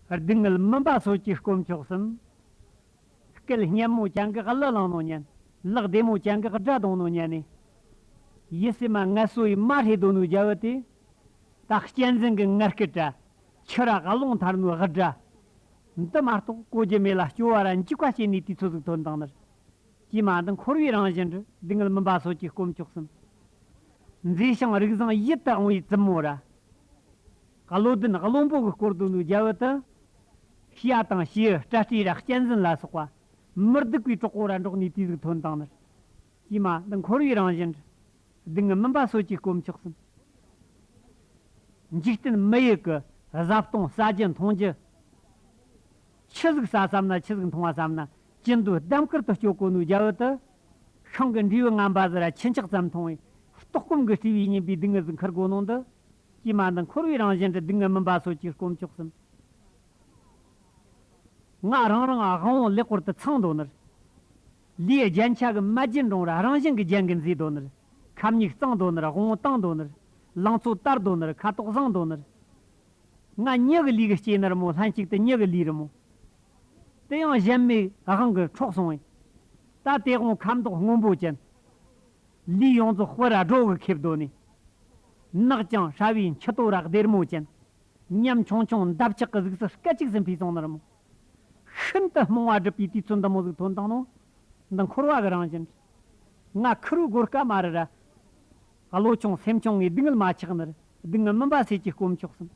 སྡུག་བསྔལ་སྨིན་པ་སོགས་ཀྱིས་བསྐོམ་ཆོག་གསུམ། སྐལ་སྙན་མོ་བྱ་འགག་གླུ་བླང་ནོ་སྙན། གླགས་བདེ་མོ་བྱ་འགག་སྒྲ་གདོང་ནོ་སྙན་ནི། ཡིད་སེམས་མ་ངལ་སོ་ཡིས་མ་ཧྲི་དོ་ནུ་རྒྱལ་བུ་དེ། དག་སྐྱེ་འཛིན་གྱི་ངར་སྐད་བྲལ། ཕྱི་ར་ག་ལོང་ཐར་ནུ་ཧི་སྒྲ། འདི་མ་རྟོགས་གོ་རྒྱུ་མེད་ལ་སྐྱོ་བ་ར་འཇིགས་པ་སྐྱེ་ནི་དུས་ཚོད་གཟུགས་དོན་དང་ནི། ཀྱེ་མ་འདི་འཁོར་བའི་རང་བཞིན་དྲི་སྡུག་བསྔལ་སྨིན་པ་སོགས་ཀྱིས་བསྐོམ་ཆོག་གསུམ། མཛེས་ཤིང་རིགས་བཟང་ཡིད་དུ་འོང་བའི་བཙུན་མོ་ར། བཀའ་བློ་ལྡན་བློན་པོ་གི་སྐོར་དུ་ནུ་རྒྱལ་བོད་དུ། ཞི་ཡ་དང་ཞི་ཨི་སྤྲ་སྤྲེའི་རགས་སྐྱེ་འཛིན་ལ་སོགས་པ། མི་སྡུག་པའི་གྲོགས་པོ་ར་འགྲོགས་ནས་དུས་གཟུགས་ཐོན་དང་ནི། ཀྱེ་མ་འདི་འཁོར་བའི་རང་བཞིན་དྲི། སྡུག་བསྔལ་སྨིན་པ་སོ་སྐྱེས་སྐོམ་ཆགས་སུམ། འཇིག་རྟེན་མི་ཡི་གི་བཟའ་བཏུང་ཟ་རྒྱུ་མཐོང་རྒྱུ། ཁྱི་གཟུགས་ཟ་བསམ་ན་ཁྱི་གཟུགས་མཐོང་བ་བསམ་ན། ཅི་འདོད་ལྡེམ་དཀར་དུ་སྤྱོད་གོ་ནུ་རྒྱལ་བོད་དུ། ཤིང་གི་འབྲས་བུ་རྔམ་པ་ཟི་ར་ཁྱི་འཁྱགས་ཙམ་མཐོང་བས། ལྟོགས་སྐོམ་གི་སྤྲུལ་བའི་སྙན་པའི་སྡུག་བསྔལ་གཟུགས་མཁར་སྒོ་ནང་དུ། ཀྱི་མ་འདི་འཁོར་བའི་རང་བཞིན་གྱི་སྡུག་བསྔལ་མུན་པ་སོགས་ཀྱིས་བསྐོམ་ཆོག་གསུམ། ངག་རང་རང་དབང་བོ་ལེགས་པོར་དུ་ཚང་མདོག་ནི། ལུས་རྒྱན་ཆ་གི་མ་རྒྱན་འབྲོང་ར་རང་བཞིན་གྱི་རྒྱན་གྱིས་མཛེས་མདོག་ནི། ཁབ་སྙིགས་གཙང་མདོག་ནི་དབང་བོ་དྭངས་མདོག་ནི། ལང་ཚོ་དར་མདོག་ནི་ཁ་དོག་བཟང་མདོག་ནི། ང་མྱི་གི་ལུས་ཀྱི་སྐྱེས་ནི་རི་མོ་ལྷན་ཅིག་ཏུ་མྱི་གི་ལུས་རི་མོ། དེ་ཡང་གཞན་མིག་དབང་གིས་འཕྲོག་སོང་བས། ད་དེ་དབང་ཁབ་མདོག་སྔོན་པོ་ཅན། ལུས་ཡོངས་རྫོགས་སྤོས་ར་སྒྲོ་བས་ཁེབས་གདོད་ནས། ནག་ལྕང་ཧྲ་བའི་མཆུ་ཏོ་རག་སྡེར་མོ་ཅན། ཉམས་ཆུང་ཆུང་འདབ་ཆགས་ཀྱི་གཟུགས་སུ་སྐད་ཅིག་ཟིན་པའི་གཟུངས་ནོར་མོ། ཤིན་ཏུ་རྨོངས་བ་སྒྲིབ་པའི་དུས་ཚོད་འདི་མོ་གཟུགས་ཐོན་སྟངས་ནང་འདི་འཁོར་བ་གི་རང་བཞིན། ང་ཁུ་རུ་སྒོར་སྐ་མ་རི་ར། བློ་ཆུང་སེམས་ཆུང་ངས་སྡུག་བསྔལ་མ་ཆགས་ནི་རུ་སྡུག་བསྔལ་མིན་པ་སེ་ཅི་སྐོམ་ཆོག་གསུངས།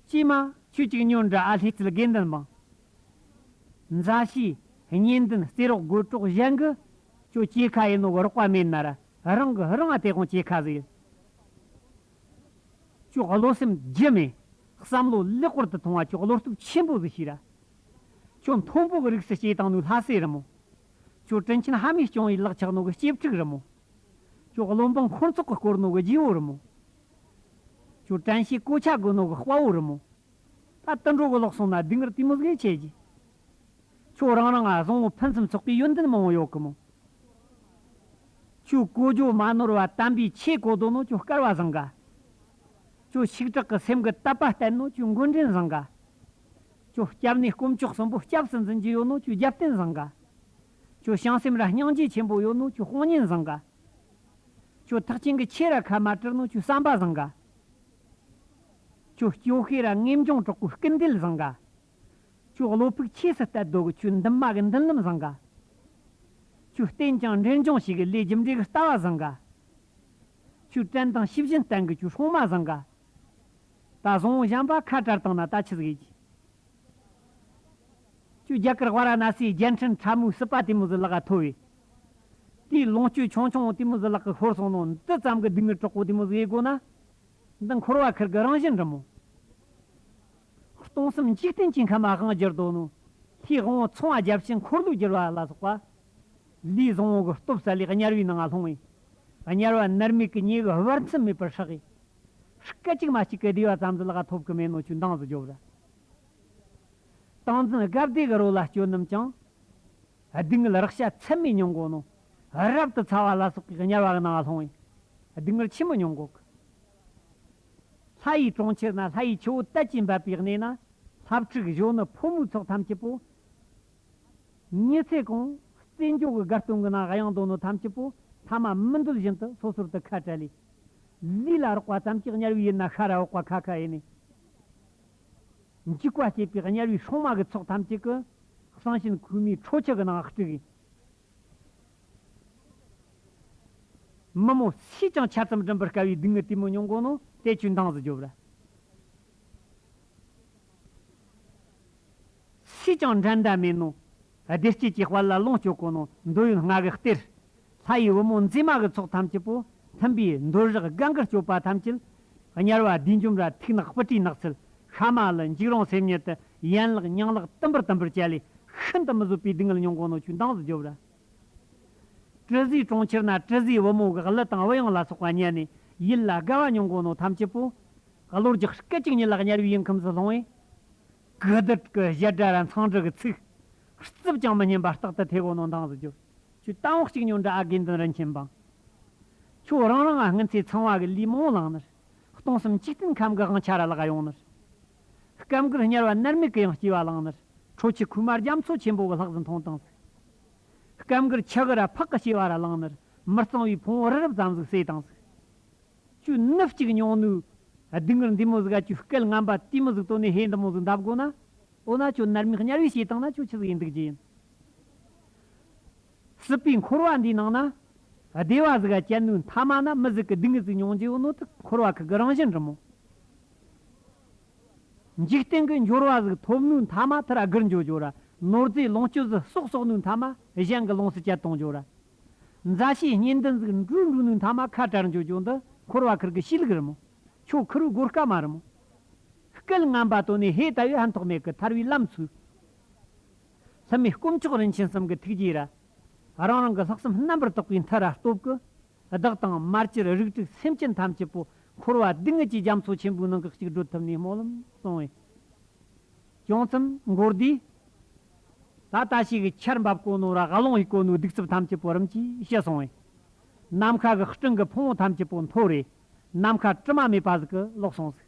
ཀྱེ་མ་ཁྱོད་ཅིག་ཉོན་འདྲ་ཨ་ལྷའི་རྩིལ་དགེ་འདུན་འབངས། མཛའ་བཤེས་གཉེན་འདུན་རྩེ་རོགས་དགོད་གྲོགས་གཞན་གྱི་ཁྱོད་སྐྱེས་ཁ་ཡིན་ནོ་གི་རོགས་པ་མེད་ན་ར་རང་གི་རང་ཨ་དེ་ཁོང་སྐྱེས་ཁ་ཟིག་ཡིན། ཁྱོད་བློ་སེམས་རྒྱུ་མེད། བསམ་བློ་ལེགས་པོར་དུ་ཐོང་བ་ཁྱོད་བློ་སྟོབས་ཆེན་པོ་ཟིག་ཤེས་ར། ཁྱོད་མཐོན་པོ་གི་རིགས་སུ་སྐྱེས་བཏང་ནུས་ལྷ་སྲས་རི་མོ། ཁྱོད་དྲིན་ཆེན་ཧ་མས་སྐྱོང་ཡི་ལག་ཆགས་ནོ་གི་སྐྱེས་ཕྲུག་རི་མོ། ཁྱོད་བློ་འབངས་འཁོར་ཚོགས་གི་སྐོར་ནོ་གི་རྗེ་བོ་རི་མོ། ཁྱོད་བཀྲན་ཤེས་གོ་ཆ་དགོས་ནོ་གི་དཔའ་བོ་རི་མོ། ད་ལྟ་འགྲོ་གི་ལོག་སོང་ན་སྡུག་བསྔལ་དུས་མི་དགོས་ཁྱེད་ཀྱིས། ཁྱོད་རང་རང་ང་བཟང་བོ་ཕུན་སུམ་ཚོགས་པའི་ཡོན་ཏན་མང་བོ་ཡོད་གི་མོད། ཁྱོད་གོ་རྒྱུ་མ་ནོར་བ་དམ་པའི་ཆོས་གོ་དོ་ནོ་ཁྱོད་སྐལ་བ་བཟང་ག། ཁྱོད་ཤིག་དྲག་གི་སེམས་ཀྱི་དད་པ་བརྟན་ནོ་ཁྱོད་མགོན་འདྲེན་བཟང་ག། ཁྱོད་སྐྱབས་གནས་དཀོན་མཆོག་གསུམ་པོ་སྐྱབས་སུ་འཛིན་རྒྱུ་ཡོད་ནོ་ཁྱོད་རྒྱབ་རྟེན་བཟང་ག། ཁྱོད་བྱང་སེམས་ར་སྙིང་རྗེ་ཆེན་པོ་ཡོད་ནོ་ཁྱོད་དཔང་གཉེན་བཟང་ག། ཁྱོད་ཐག་ཆེན་གྱི་ཆོས་ར་ཁ་མ་དྲིལ་ནོ་ཁྱོད་བསམ་པ་བཟང་ག། ཁྱོད་སྐྱོ་ཤས་ར་ངེམ་འབྱུང་གྲོགས་པོའི་སྐུ་མདེལ་བཟང་ག། ཁྱོད་བློ་ཕུག་ཆེས་སུ་བསྟད་རྡོ་གི་ཁྱོད་འདུན་མ་གི་མདུན་ལམ་བཟང་ག། ཁྱོད་བསྟན་ཀྱང་འདྲེན་འབྱུང་བྱེད་གི་ལས་རྒྱུ་འབྲས་གི་ལྟ་བ་བཟང་ག། ཁྱོད་བྲན་དང་ཤི་བཞིན་བསྟན་གི་ཁྱོད་ཧྲོང་མ་བཟང་ག། ད་བཟང་བཞམ་པ་ཁ་བྲལ་བཏང་ན་ད་ཆི་ཟིག་ཨེ། ཁྱོད་རྒྱ་གར་བྷ་ར་ན་སིའི་རྒྱལ་འཕྲིན་ཁྲ་མོའི་སྲིད་པ་དེ་མོ་ཟི་ལག་ག་ཐོ་བས། དེའི་ལོངས་སྤྱོད་ཆུང་ཆུང་དེ་མོ་ཟི་ལག་གི་ཧོར་སོང་ནོ་འདི་ཙམ་གི་སྡུག་བསྔལ་གྲོགས་པོ་དེ་མོ་ཟི་ཨེ་གོ་ན། འདི་འཁོར་བ་ཁིར་གི་རང་བཞིན་འབྲི་མོ། སྟོང་གསུམ་འཇིག་རྟེན་གྱི་ཁམས་དབང་བགྱིར་དོ། ལྷའི་དབང་བོ་ཚང་བ་བརྒྱ་བྱིན་འཁོར་ལོས་བསྒྱུར་བ་ལ་སོགས་པ། ལུས་བཟང་བོ་གི་སྟོབས་སལ་ལེ་དམྱལ་བའི་ནང་ང་ལྷུང་བས། དམྱལ་བ་ནར་མིག་གི་ཉེ་བའི་བར་མཚམས་མེད་པར་ཧྲག་གི། སྐད་ཅིག་མ་གཅིག་གི་བདེ་བ་ཙམ་དུ་ལ་ག་ཐོབ་གི་མེད་ནོ་ཆུ་མདངས་སུ་རྒྱོབ་ར། སྟངས་འཛིན་སྒབ་བདེ་གི་རོ་ལ་སྐྱོ་རྣམས་ཀྱང། སྡུག་བསྔལ་རག་ཤ་ཚད་མེད་མྱོང་དགོས་ནོ། རབ་ཏུ་ཚ་བ་ལ་སོགས་པའི་དམྱལ་བ་རྣམས་ལ་ལྷུང་བས་སྡུག་བསྔལ་ཆེན་པོ་མྱོང་དགོས་ཀྱི། ལྷ་ཡི་གྲོང་ཁྱེར་ན་ལྷ་ཡི་ཆུ་བོ་དལ་གྱིས་འབབ་པའི་གནས་ན། ལྷ་ཕྲུག་གཞོན་ནུ་ཕོ་མོའི་ཚོགས་ཐམས་ཅད་པོ། ཉི་ཚེ་གང། རྩེད་འཇོ་གི་སྒར་སྟོང་གི་ན་ག་ཡང་དོ་ནོ་ཐམས་ཅད་པོ་ཐ་མ་མི་འདོད་བཞིན་དུ་སོ་སོར་དུ་ཁ་བྲལ་ལས། ལུས་ལ་རོགས་པ་ཙམ་གྱིས་དམྱལ་བའི་ཡུལ་ན་ཤ་ར་འོག་པ་ཁ་ཁ་ཡེ་ནས། འཇིགས་པ་བསྐྱེད་པའི་དམྱལ་བའི་ཧྲོང་དམག་གི་ཚོགས་ཐམས་ཅད་ཀྱི། གསང་ཆེན་ཁུག་མའི་ཁྲོ་ཆུ་གི་ནང་དཀྲིགས། མི་མོ་སུས་ཀྱང་ཆ་ཙམ་བསྒྲིམ་པར་དཀའ་བའི་སྡུག་བསྔལ་དུས་མི་ཉུང་གོ་ནོ་སྟེ་ཆུ་འདང་ཟི་རྒྱོབ་ར། སུས་ཀྱང་འགྲན་ཟླ་མེད་ནོ། བདེ་སྐྱིད་ཀྱི་དཔལ་ལ་ལོངས་སྤྱོད་གོ་ནོ་འདོད་ཡོན་ལྔ་གི་གཏེར། ལྷ་ཡི་བུ་མོ་མཛེས་མ་གི་ཚོགས་ཐམས་ཅད་པོ་མཐུན་པའི་འདོད་རེག་སྒང་གི་སྤྱོད་པ་ཐམས་ཅད། དམྱལ་བ་བདུད་འཇོམས་ར་ཐིག་ནག་སྤུ་གྲིའི་ནགས་ཚལ་ཤ་མ་ལི་འཇིགས་རུང་སེམས་ཉིད་དུ་ཡན་ལག་སྙིང་ལག་ཏིམ་པར་ཏིམ་པར་བྱས་ལས་ཤིན་ཏུ་མི་བཟོད་པའི་སྡུག་བསྔལ་མྱོང་གོང་ནོར་ཆུའི་མདངས་སུ་རྒྱོབ་ར། དྲི་ཟའི་གྲོང་ཁྱེར་ན་དྲི་ཟའི་བུ་མོ་གི་གླུ་དང་དབུ་དབྱངས་ལ་སོགས་པ་མཉན་ནས་ཡིད་ལ་དགའ་བ་མྱོང་གོང་ནོར་ཐམས་ཅད་པོ། བློ་རྒྱགས་སྐད་ཅིག་ཉིད་ལ་དམྱལ་བའི་ཡུལ་ཁམས་སུ་ལྷུང་བས། གུ་དྲག་གི་བཞད་སྒྲ་ར་མཚང་སྒྲ་གི་ཚིག། རྩིབས་ཀྱང་མི་སྙན་པ་རྟག་ཏུ་ཐེག་གོང་ནོར་མདངས་སུ་རྒྱོབ། ཆུ་གཏམ་བོགས་གཅིག་ཉོ་འདྲ་ཨ་དགེ་འདུན་རིན་ཆེན་འབངས། ཁྱོད་རང་རང་ང་སྔོན་ཚེ་ཚང་བ་གི་ལུས་མང་བླངས་ནས། སྟོང་གསུམ་འཇིག་རྟེན་ཁམས་གི་དབང་ཆ་ར་བརླག་ཡོང་ནས། སྐབས་འགར་དམྱལ་བ་མནར་མེད་གི་ཡང་སྐྱེ་བ་བླངས་ནས། ཁྲོ་ཆུ་ཁུག་མར་རྒྱ་མཚོ་ཆེན་པོ་གི་ལྷགས་ཟིན་མཐོང་སྟངས་གཟིགས། སྐབས་འགར་ཆུ་གི་ར་ཕག་གི་སྐྱེ་བ་ར་བླངས་ནས། མི་གཙང་བའི་ཕུང་བོ་རི་རབ་ཙམ་ཟིག་བསྲེགས་སྟངས་གཟིགས། ཆུ་སྣུབས་གཅིག་ཉོ་ནུས། སྡུག་སྔལ་འདི་མོ་ཟིག་ཨ་ཆུ་སྐལ་ངན་པ་དེ་མོ་ཟིག་དོ་ནས་ཧེ་འདི་མོ་ཟིག་འདབ་དགོ་ན། འོ་ན་ཁྱོད་མནར་མེད་དམྱལ་བའི་བྱེད་སྟངས་ན་ཁྱོད་ཆི་ཟིག་ཡིན་འདུག་ཅི་ཡིན། སྲིད་པའི་འཁོར་བ་འདིའི་ནང་ན། བདེ་བ་གཟུགས་ཀྱི་སྐྱེ་འདུག་མཐའ་མ་ན་མི་གཟུགས་ཀྱི་སྡུག་བསྔལ་གཟུགས་མྱོང་བྱེད་ནོར་དུག་འཁོར་བ་ཁག་གི་རང་བཞིན་རི་མོ། འཇིག་རྟེན་གྱི་འབྱོར་བ་གཟུགས་ཐོབ་ནུས་མཐའ་མ་ཐར་དགུར་འབྱོར་འབྱོར་ར་ནོར་རྫས་ལོངས་སྤྱོད་གཟུགས་གསོག་གསོག་ནུས་མཐའ་མ་གཞན་གྱི་ལོངས་སུ་སྤྱད་དང་འབྱོར་ར། མཛའ་བཤེས་གཉེན་འདུན་གཟུགས་འགྲུས་འགྲུབ་ནུས་མཐའ་མ་ཁ་བྲལ་འབྱོར་འབྱོར་འདི་འཁོར་བ་ཁག་གི་གཤིས་ལུགས་རི་མོ། ཆོ་ཁུར་སྒོ་སྐལ་མ་རི་མོ། སྐལ་ངན་པ་དོན་ནི་ཧེ་ད་ཡོད་ཧན་ཐོགས་མེད་ཀྱི་ཐར་བའི་ལམ་ཚུལ། མཚན་མའི་སྐུ་མཆོག་རིན་ཆེན་གསུམ་གྱི་ཐུགས་རྗེའི་ར། རང་རང་གི་ལྷག་བསམ་རྣམ་པར་རྟོག་པའི་མཐར་ར་སྟོབས་ཀྱིས། བདག་དང་དམར་གྱིར་རིགས་དྲུག་སེམས་ཅན་ཐམས་ཅད་པོ། འཁོར་བ་སྡུག་བསྔལ་གྱི་རྒྱ་མཚོ་ཆེན་པོའི་ནང་གི་གཅིག་བགྲོད་ཐུབ་ནས་སྨོན་ལམ་གསུང་བས། བྱང་སེམས་མགོར་བསྡུས། ད་ལྟ་ཞིག་ཆར་འབབ་དཀོན་ནོ་ར་གླིང་བའི་དཀོན་ནོའི་སྡིག་རྩུབ་ཐམས་ཅད་པོ་རིམ་གྱིས་ཞི་གསུང་བས། ནམ་མཁའ་གི་སྤྲིན་གྱི་ཕུང་བོ་ཐམས་ཅད་པོ་འཐོར་བས། ནམ་མཁའ་དྲི་མ་མེད་པ་ཟིག་གི་ལོག་སོང་ཟིག།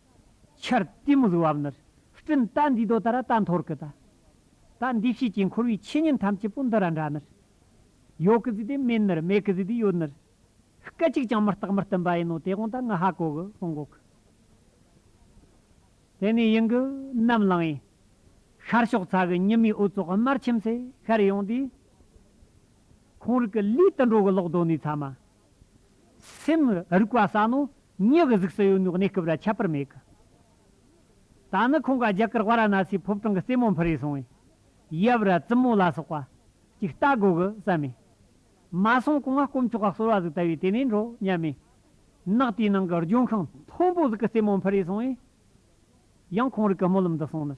ཆར་གཏི་མུག་གི་བབས་ནུར་སྤྲིན་རྟ་འདིས་རྡོ་ལྟར་རྟ་འཐོར་གི་རྟ། རྟ་འདི་བྱས་ཀྱིས་འཁོར་བའི་ཆོས་ཉིད་ཐམས་ཅད་པོ་འདི་ར་འདྲ་ནུར། ཡོད་གི་ཟིག་དེ་མེད་ནུར་མེད་གི་ཟིག་དེ་ཡོད་ནུར། སྐད་གཅིག་ཀྱང་མི་རྟག་མི་བསྟུན་པ་ཡིན་ནོ་དེ་གོང་དང་ང་ཧ་གོ་གི་གསུང་གོ་གི། དེ་ནས་ཡུན་གྱི་ནམ་ལངས་ཡིན། ཤར་ཕྱོགས་ཚ་གི་ཉི་མའི་འོད་ཙོག་དམར་ཁྱིམ་སེ་ཤར་ཡོང་དུས། ཁོང་རིགས་ཀྱི་ལུས་དུད་འགྲོ་གི་ལོག་རྡོ་ནས་ཚ་མ། སེམས་རིག་པ་ཟ་ནོ། མྱི་གི་གཟུགས་སུ་ཡོད་ནོ་གནས་སྐབས་ལ་ཁྱད་པར་མེད་གི། ད་ནི་ཁོང་ག་རྒྱ་གར་བྷ་ར་ན་སིའི་ཕོབ་ཐང་གི་རྩེ་མོ་འཕུར་རེ་སོང་བས། ཡབ་ར་བཙུན་མོ་ལ་སོགས་པ། ཅིག་ལྟ་དགོས་གི་བསམ་མེད། མ་སོང་གོང་ང་སྐོམ་ཆོག་ག་གསོལ་བ་ཟིག་ལྟ་བས་དེ་ནས་འགྲོ་སྙམ་མེད། ནགས་དེའི་ནང་གི་ལྗོན་ཤིང་མཐོན་པོ་ཟིག་གི་རྩེ་མོ་འཕུར་རེ་སོང་བས། ཡང་ཁོང་རིག་གི་རྨོ་ལམ་དུ་སོང་ནས།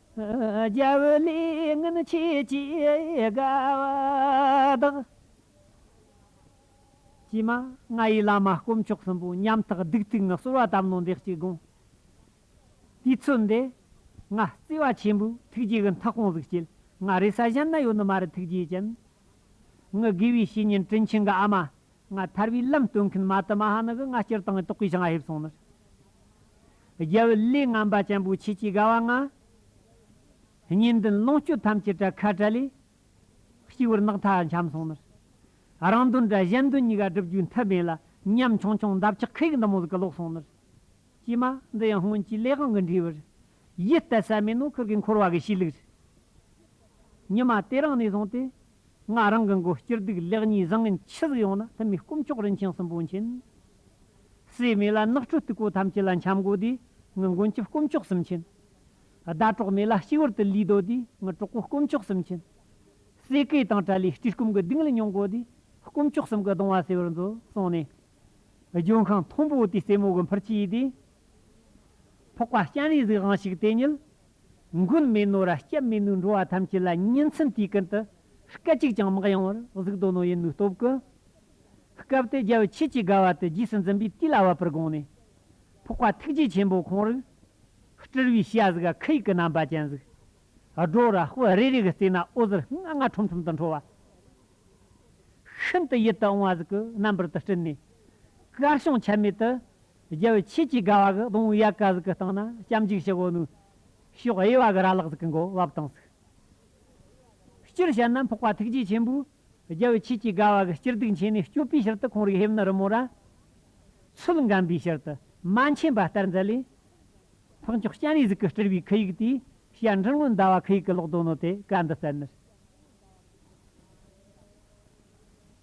རྒྱ་བོད་ལས་ངན་ཆེ་བྱེད་དགའ་བ་དག། ཀྱེ་མ་ང་ཡི་བླ་མ་དཀོན་མཆོག་གསུམ་པོ་ཉམ་ཐག་སྡིག་སྟིག་ངག་སོར་བ་དམ་ལོང་འདེགས་ཀྱི་དགོངས། དུས་ཚོད་འདས། ང་བརྩེ་བ་ཆེན་པོའི་ཐུགས་རྗེ་གི་མཐའ་ཁོང་ཟིག་བསྐྱིལ་ང་རེ་ས་གཞན་ན་ཡོད་ནི་མ་རེད་ཐུགས་རྗེ་ཅན། ངི་དགེ་བའི་བཤེས་གཉེན་དྲིན་ཆེན་གི་ཨ་མ། ང་ཐར་བའི་ལམ་སྟོན་མཁན་མ་དུ་མ་ཧ་ནི་གི་ང་སྤྱིར་བཏང་གི་རྟོགས་པའི་ཆང་ཧེབ་སོང་ནི། རྒྱལ་བུ་ལས་ངན་པ་ཅན་པོ་ཁྱེད་ཀྱི་དགའ་བ་ང། གཉེན་འདུན་ལོངས་སྤྱོད་ཐམས་ཅད་བྲལ་ཁ་བྲལ་ལས། གཅིག་བུར་ནགས་མཐའ་འཁྱམས་སོང་ནི། རང་འདུན་དགྲ་གཞན་འདུན་གཉིས་ཀ་སྒྲུབ་རྒྱུའི་མཐུ་མེད་ལ་ཉམ་ཆུང་ཆུང་འདབ་ཆགས་ཁའི་འདམ་བུ་གི་ལོག་སོང་ནི། ཀྱེ་མ་འདི་ཡང་སྔོན་གྱི་ལས་གང་གི་འབྲས་བུར། ཡིད་གཏད་ཟད་མེད་ནོར་ཁུར་གྱི་འཁོར་བ་གི་ཕྱིར་ལུས། ཉི་མ་དེ་རང་ནས་བཟུང་སྟེ་ང་རང་གི་མགོ་སྐྱུར་སྡུག་ལེགས་ཉེས་བཟང་ངན་ཇི་ཟིག་ཡོང་ན་ལྷུན་མེད་སྐུ་མཆོག་རིན་ཆེན་གསུམ་པོ་མཁྱེན། སྲིད་མེད་ལ་ནགས་ཁྲོད་སྟུག་པོ་ཐམས་ཅད་ལ་འཁྱམས་སྒོ་དེ་ངི་མགོན་སྐྱབས་སྐུ་མཆོག་གསུམ་མཁྱེན། ཟླ་གྲོགས་མེད་ལ་གཅིག་བུར་དུ་ལུས་རྡོ་དེ་ངི་གྲོགས་པོ་སྐུ་མཆོག་གསུམ་མཁྱེན། སྲས་སྐལ་དང་བྲལ་ལས་སྤྲུལ་སྐུམ་གི་སྡིངས་ལ་མྱོང་སྒོ་དེ་སྐུ་མཆོག་གསུམ་གི་གདུང་བ་སེལ་བར་མཛོད་གསུངས་ནས། ལྗོན་ཤིང་མཐོན་པོ་དེའི་རྩེ་མོ་གི་འཕུར་ཆས་དེ། ཕོག་པ་སྤྱན་རས་གཟིགས་དབང་ཕྱུག་དེ་ཉིད། མགོན་མེད་ནོ་ར་སྐྱབས་མེད་ནུས་འགྲོ་བ་ཐམས་ཅད་ལ་བསྙེན་ཚིམ་དུས་ཀུན་ཏུ། སྐད་ཅིག་ཅང་མག་ཡང་བར་གཟུགས་དོ་ནོ་ཡེ་ནུས་སྟོབས་ཀུན། སྐབས་དེ་རྒྱལ་བའི་ཆོས་ཀྱི་དགའ་བ་དེ་རྗེས་སུ་འཛིན་པའི་དུས་ལ་བབ་པར་དགོངས་ནས། ཕོག་པ་ཐུགས་རྗེ་ཆེན་པོ་ཁོང་རིག། སྤྲུལ་བའི་ཤ་ཟ་ག་ཁི་ཡིག་གི་རྣམ་པ་ཅན་གཟིགས། སྒྲོ་ར་སྤུ་རེ་རེ་གི་རྩེ་ན་ཨོ་ཟེར་ལྔ་ལྔ་ཁྲོམ་ཁྲོམ་དུ་འཕྲོ་བ། ཤིན་ཏུ་ཡིད་དུ་འོང་བ་གཟིགས། རྣམ་པར་དུ་སྤྲུལ་ནས་དཀར་བྱང་ཆད་མེད་དུ། རྒྱལ་བའི་ཆོས་ཀྱི་དགའ་བ་གི་གདུང་ཡལ་ག་གཟུགས་ཀྱི་སྟེང་ན་སྐྱབས་འཇུག་ཞི་བའོ་ནུ། ཞོག་དབྱེ་བ་གི་ར་ལག་གཟུགས་ཀྱི་མགོ་བབས་དང་གཟུགས། སྤྱིར་བཤད་ན་འཕགས་པ་ཐུགས་རྗེ་ཆེན་པོས་རྒྱལ་བའི་ཆོས་ཀྱི་དགའ་བ་གི་སྤྱིར་སྡུག་མཁྱེན་ནས་སྐྱོབ་པའི་ཕྱིར་དུ་ཁོང་རིགས་ཧེབ་ནི་རི་མོ་ར། ཚུལ་འགམ་པའི་ཕྱིར་དུ་མ་མཁྱེན་པ་ལྟར་མཛད་ལས། འཕགས་མཆོག་སྤྱན་རས་གཟིགས་ཀྱི་སྤྲུལ་པའི་ཁི་ཡིག་དེའི་བཤད་འཕྲིན་སྔོན་ཟླ་བ་ཁི་ཡིག་གི་ཀློག་དོན་ནོ་དེ་བཀའ་འདི་གསན་ནི།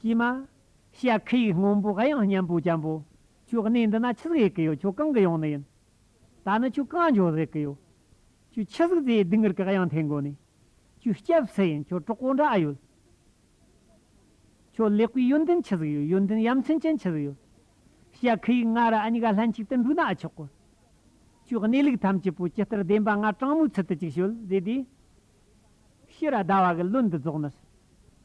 ཀྱེ་མ། ཤཱ་ཁྱི་ཡིག་སྔོན་པོ་གཡང་སྙན་པོ་ལྕམ་པོ། ཁྱོད་གནས་འདི་ན་ཆི་ཟིག་ཡོད་ཀི་ཡོད་ཁྱོད་གང་གི་ཡོང་ནི་ཡིན། ད་ནི་ཁྱོད་གང་འབྱོར་ཟིག་གི་ཡོད། ཁྱོད་ཆི་ཟིག་དེའི་སྡིག་ངར་གི་གཡང་འཐེན་དགོས་ནི། ཁྱོད་སྐྱབས་སུ་ཡིན་ཁྱོད་གྲོགས་པོ་འདྲ་ཨ་ཡོད། ཁྱོད་ལེགས་པའི་ཡོན་ཏན་ཆི་ཟིག་ཡོད་ཡོན་ཏན་ཡ་མཚན་ཅན་ཆི་ཟིག་ཡོད། ཤཱ་ཁྱི་ཡིག་ང་ར་ཨ་ཉི་ག་ལྷན་ཅིག་ཏུ་འགྲོས་ན་ཨ་ཆོག་གི། ཁྱོད་གནས་ལུགས་ཐམས་ཅད་པོ་ཇི་ལྟར་བདེན་པ་ང་དྲང་མོའི་ཚུལ་དུ་ཅིག་ཤོད་བཟོས་དུས། ཤི་ར་ཟླ་བ་གི་བློན་འདི་རྫོགས་ནས་སུ།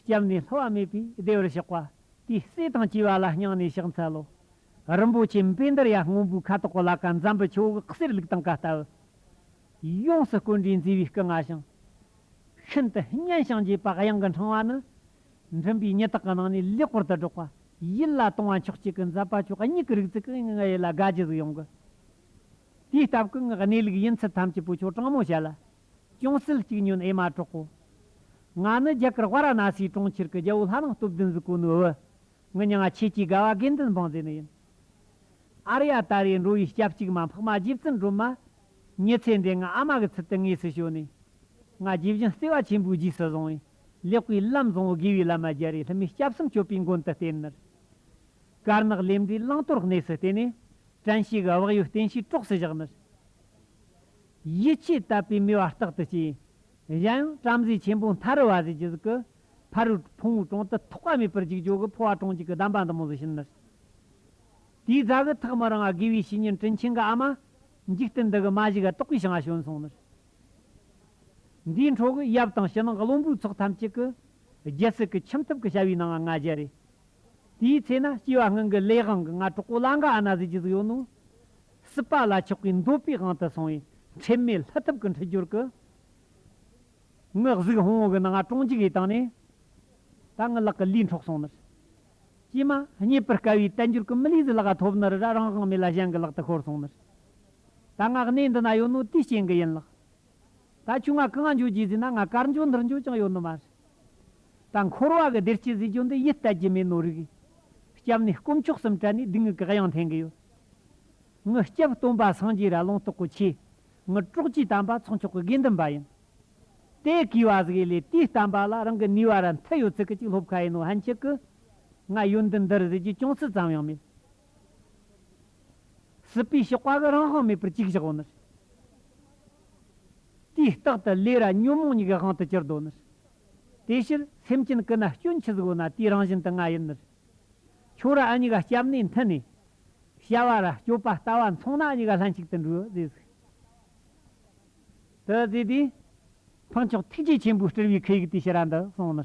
སྐྱབས་ནས་ལྷ་བ་མེད་པའི་སྡེ་བར་ཞོག་པ། དེའི་བསེ་ཐང་བྱིས་པ་ལ་སྙིང་ནས་ཕྱག་འཚལ་ལོ། རིན་པོ་ཆེ་འབེ་འདིར་ཡར་སྔོན་པོའི་ཁ་དོག་གི་ལ་ཀ་འཛམ་བུའི་ཆུ་བོ་གསེར་ལུགས་དང་ཀ་རྟ་བུ། ཡོངས་སུ་བཀོད་འདྲའི་མཛེས་པའི་སྐུ་མངའ་ཞིང། ཤིན་ཏུ་སྙན་ཞིང་རྗེས་དཔག་དབྱངས་ཀྱི་འཕྲེང་བ་ནི། མགྲིན་པའི་ཉི་དག་གི་ནང་ནས་ལེགས་པོར་དུ་སྒྲོག་པ། ཡིད་ལ་དུང་བ་མཆོག་སྐྱེས་ཀྱི་འཛབ་པ་ཆོས་སྙིགས་ཀྱི་རིག་ཚིག་གི་སྔགས་ཡིད་ལ་དགའ་བགྱི་གཟུགས་ཡོངས་ཀྱི། དེའི་སྟབས་ཀྱི་སྔགས་གནས་ལུགས་ཡིན་ཚུལ་ཐམས་ཅད་པོ་ཆོས་དྲང་མོ་བཤད་ལ། ཅུང་ཟད་གཅིག་ཉོན་ཨེ་མ་གྲོགས་པོ། ང་ནི་རྒྱ་གར་བྷ་ར་ན་སིའི་གྲོང་ཁྱེར་གྱི་རྒྱལ་བོ་ལྷ་ནང་སྟོབས་ལྡན་གཟུགས་སྐུ་ནུ་བོ། ངི་ཉི་ང་ཁྱེད་ཀྱི་དགའ་བ་དགེ་འདུན་འབངས་མཛེས་ནི་ཡིན། ཨ་རི་ཡ་ད་རེས་འགྲོ་བའི་སྐྱབས་གཅིག་མ་འཕགས་མ་རྗེ་བཙུན་སྒྲོལ་མ། ཉི་ཚེ་འདས་ང་ཨ་མ་གི་ཚུལ་དུ་དངོས་སུ་བྱོན་ནས། ང་རྗེ་བཞིན་བརྩེ་བ་ཆེན་པོའི་རྗེས་སུ་བཟུང་བས་ལེགས་པའི་ལམ་བཟང་བོ་དགེ་བའི་བླ་མ་རྒྱ་རི་ལྷ་མོའི་སྐྱབས་གསུམ་སྤྱོད་པའི་མགོན་དུ་བསྟེན། ནི་དཀར་ནག་ལས་འབྲས་བླང་དོར་གནས་སུ་བསྟེན། ནི་བྲན་བྱེད་དབག་ཡོད་བསྟེན་བྱའི་གྲོགས་སུ་བཞག། ནི་ཡིད་ཆེས་བཏབ་པའི་མོས་པ་རྟག་ཏུ་སྐྱེས། གཞན་ཡང་བྲམ་ཟེ་ཆེན་པོ་མཐར་བ་རི་རྒྱུད་གཟུགས་ཀྱི། ཕ་རོལ་ཕུང་བོའི་གྲོང་དུ་ཐོགས་པ་མེད་པར་འཇིགས་བྱུག་གི་འཕོ་བ་གྲོང་གཅིག་གི་གདམས་པ་འདི་མོ་བཟོད་བྱིན་ནོ། དེའི་རྫ་གུ་ཐག་མི་རིང་བ་དགེ་བའི་བཤེས་གཉེན་དྲིན་ཆེན་གྱི་ཨ་མ། འཇིག་རྟེན་འདི་གི་མ་གཞི་ག་དོག་པའི་བྱང་བ་བྱོན་སོང་ནོ། འདིའི་འཕྲོ་གི་ཡབ་དང་ཕྱི་ནང་གི་བློན་པོའི་ཚོགས་ཐམས་ཅད་ཀྱི། རྒྱལ་སྲིད་ཀྱི་ཁྱིམ་ཐབ་ཀྱི་བྱ་བའི་ནང་ང་རྒྱལ་རེད། དེའི་ཚེ་ན་སྐྱེ་བ་སྔོན་གྱི་ལས་དབང་གི་ང་གྲོགས་པོ་བླ་འགའ་ཨ་ན་བཟོད་ཀྱི་གཟུགས་ཡོད་ནོ། སྲིད་པ་ལ་ཆགས་པའི་འདོད་པའི་དབང་དུ་སོང་བའི་ཁྲེལ་མེད་ལྷ་ཐབས་ཀྱི་འཁྲིལ་སྦྱོར་གྱི་དངོས་གཟུགས་ཧོང་གི་ནང་ཀྲོང་འཇིགས་ཡིད་བཏང་ནས། ད་ངའི་ལག་གི་ལུས་འཕྲོག་སོང་ནི། ཀྱེ་མ། རྙེད་པར་དཀའ་བའི་བསྟན་འགྱུར་གྱི་མི་ལུས་འདི་ལག་ལ་ཐོབ་ནི་རེ་ར་རང་དབང་མེད་ལ་གཞན་གྱི་ལག་ཏུ་ཤོར་སོང་ནི། ད་ང་གནས་འདི་ན་ཡོད་ནོ་དེའི་རྐྱེན་གྱིས་ཡིན་ལགས། ད་ཁྱོད་ང་གང་འགྱོ་རྒྱུ་ཟིན་ན་ང་གར་འགྱོ་འདིར་འགྱོ་ཅང་ཡོད་ནི་མ་རེད། ད་འཁོར་བ་གི་བདེ་སྐྱིད་ཟེར་རྒྱུ་འདི་ཡིད་གཏད་རྒྱུ་མེད་ནོ་རིགས། སྐྱབས་ནི་དཀོན་མཆོག་གསུམ་བྲལ་ནས་སྡིག་ངུས་བཀག་ཡང་འཐེན་གི་ཡོད། ངུ་སྐྱབས་སྟོན་པ་སངས་རྒྱས་ར་ལོང་ཏོག་གོ་ཆེ། ངུ་དཀྲོགས་ཀྱིས་དམ་པ་ཚོགས་མཆོག་གི་དགེ་འདུན་པ་ཡིན། དེ་གིས་བ་ཟིག་ཡེ་ལེ་དེའི་བསྟན་པ་ལ་རང་གི་ནུས་བ་ར་མཐུད་ཡོད་ཚིག་གི་ཅིག་སློབ་ཁ་ཡིན་ནོ་ཧན་ཆིག་གི། ང་ཡོད་འདི་འདིར་ཟེར་རྒྱུ་ཅུང་ཟི་ཙམ་ཡང་མེད། སྲིད་པའི་གཤོག་པ་གི་རང་དབང་མེད་པར་གཅིག་བཞག་བ་ནི། དུས་རྟག་ཏུ་ལས་ར་ཉོན་མོངས་ཉིད་ཀྱི་དབང་དུ་གྱུར་ཏོ་ནི། དེ་ཕྱིར་སེམས་ཅན་ཀུན་ན་སྐྱོན་ཆུ་གཟུགས་ན་དེའི་རང་བཞིན་དུ་ང་ཡིན་ནི། ཆོས་ར་གཉིས་ཀ་སྐྱབས་གནས་མཐུན་ནས། བྱ་བ་ར་སྤྱོད་པ་ལྟ་བ་མཚུངས་ན་གཉིས་ཀ་ལྷན་ཅིག་ཏུ་འདྲུ་བས་ཟིག། དུ་ཟིག་དེ། འཕགས་མཆོག་ཐུགས་རྗེ་ཆེན་པོའི་སྤྲུལ་པའི་ཁུ་ཡིག་དེ་ཕྱི་ར་འདི་གསུངས་ནི།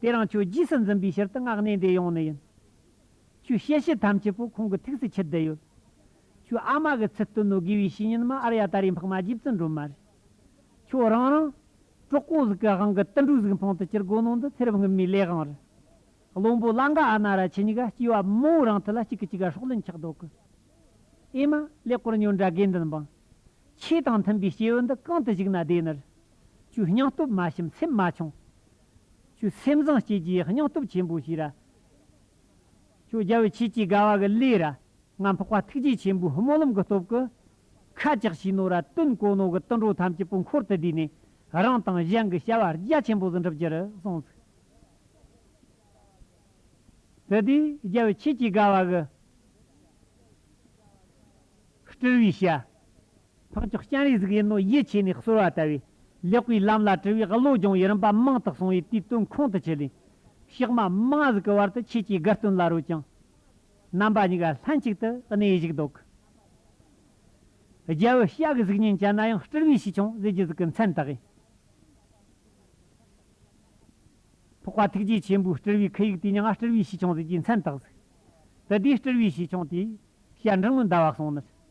དེ་རང་ཆོས་རྗེས་སུ་འཛིན་པའི་ཕྱིར་དུ་སྔགས་གནས་འདི་ཡོང་ནི་ཡིན། ཁྱོད་བཤད་བཤད་ཐམས་ཅད་པོ་ཁོང་གི་ཐུགས་སུ་ཆུད་བསྡད་ཡོད། ཁྱོད་ཨ་མ་གི་ཚུལ་སྟོན་ནོ་དགེ་བའི་བཤེས་གཉེན་མ་ཨར་ཡ་ད་རེས་འཕགས་མ་རྗེ་བཙུན་སྒྲོལ་མ་རེད། ཁྱོད་རང་རང། གྲོགས་པོ་གཟུགས་ཀྱི་དབང་གི་ཏིལ་འབྲུ་གཟུགས་འཕང་དུ་བསྐྱུར་དགོས་ནོ་འདི་ཚེ་རབས་སྔོན་མའི་ལས་དབང་རེད། བློན་པོ་གླང་ག་ཨ་ན་ར་ཆེ་ཉི་ག་སྐྱེས་བ་མང་བོ་རང་ཐུགས་ལ་གཅིག་གི་གཅིག་ག་ཧྲོག་ལེན་ཆགས་དོགས་གི། ཨེ་མ། ལེགས་བསྐོར་ཉོན་དགྲ་དགེ་འདུན་འབངས། ཆོས་དང་མཐུན་པའི་སྐྱེས་བུ་འདི་གང་དུ་བཞུགས་ན་བདེ་ནི། ཁྱོད་སྙིང་སྟོབས་མ་ཞིམ་སེམས་མ་ཆུང། ཁྱོད་སེམས་བཟང་སྐྱེས་ཀྱི་སྙིང་སྟོབས་ཆེན་པོ་ཞིག་རེད། ཁྱོད་རྒྱལ་བའི་ཆེད་ཀྱི་དགའ་བ་གི་ལས་ར་ང་འཕགས་པ་ཐུགས་རྗེ་ཆེན་པོའི་སྨོན་ལམ་གི་སྟོབས་ཀྱི་ཁ་ལྕགས་ཤིག་ནོར་ར་སྟོན་གོ་ནོར་གི་དུད་འགྲོ་ཐམས་ཅད་པོ་འཁོར་དུ་བསྡུས་ནས་རང་དང་གཞན་གྱི་བྱ་བ་རྒྱ་ཆེན་པོ་ཟིན་གྲབས་ཀྱི་རུ་སོང་ཚུགས། དེ་དུས་རྒྱལ་བའི་ཆེད་ཀྱི་དགའ་བ་གི་སྤྲུལ་བའི་ཞལ། འཕགས་མཆོག་སྤྱན་རས་གཟིགས་ཡེ་ནོ་ཡེ་བྱས་ནས་གསོལ་བ་བཏབ་བས། ལེགས་པའི་ལམ་ལ་དྲིལ་བའི་བློ་སྦྱོང་བའི་རིམ་པ་མང་དུ་སོང་བས་དུས་བསྟུན་ཁོང་དུ་ཆུད། ཕྱག་མ་མ་གཟུགས་ཀྱི་བར་དུ་ཁྱེད་ཀྱི་དགའ་སྟོན་ལ་རོལ་ཅིང། རྣམ་པ་གཉིས་ཀ་ལྷན་ཅིག་ཏུ་གནས་བཞུགས་བདོག། རྒྱལ་བུ་ཤཱཀྱའི་གཟུགས་བརྙན་ཅན་ན་ཡང་སྤྲུལ་པའི་ཞི་ཆུང་གཟི་བརྗིད་གཟུགས་ཀྱི་མཚན་དག་གིས། ཕོག་པ་ཐུགས་རྗེ་ཆེན་པོའི་སྤྲུལ་པའི་ཁུ་ཡུག་དེ་ཉིད་སྤྲུལ་པའི་ཞི་ཆུང་གཟི་བརྗིད་མཚན་དག་གཟིགས། དེ་དུས་སྤྲུལ་པའི་ཞི་ཆུང་དེས་བཤད་འབྲིང་ལུང་བཟླ་བ་གསུངས་ནས།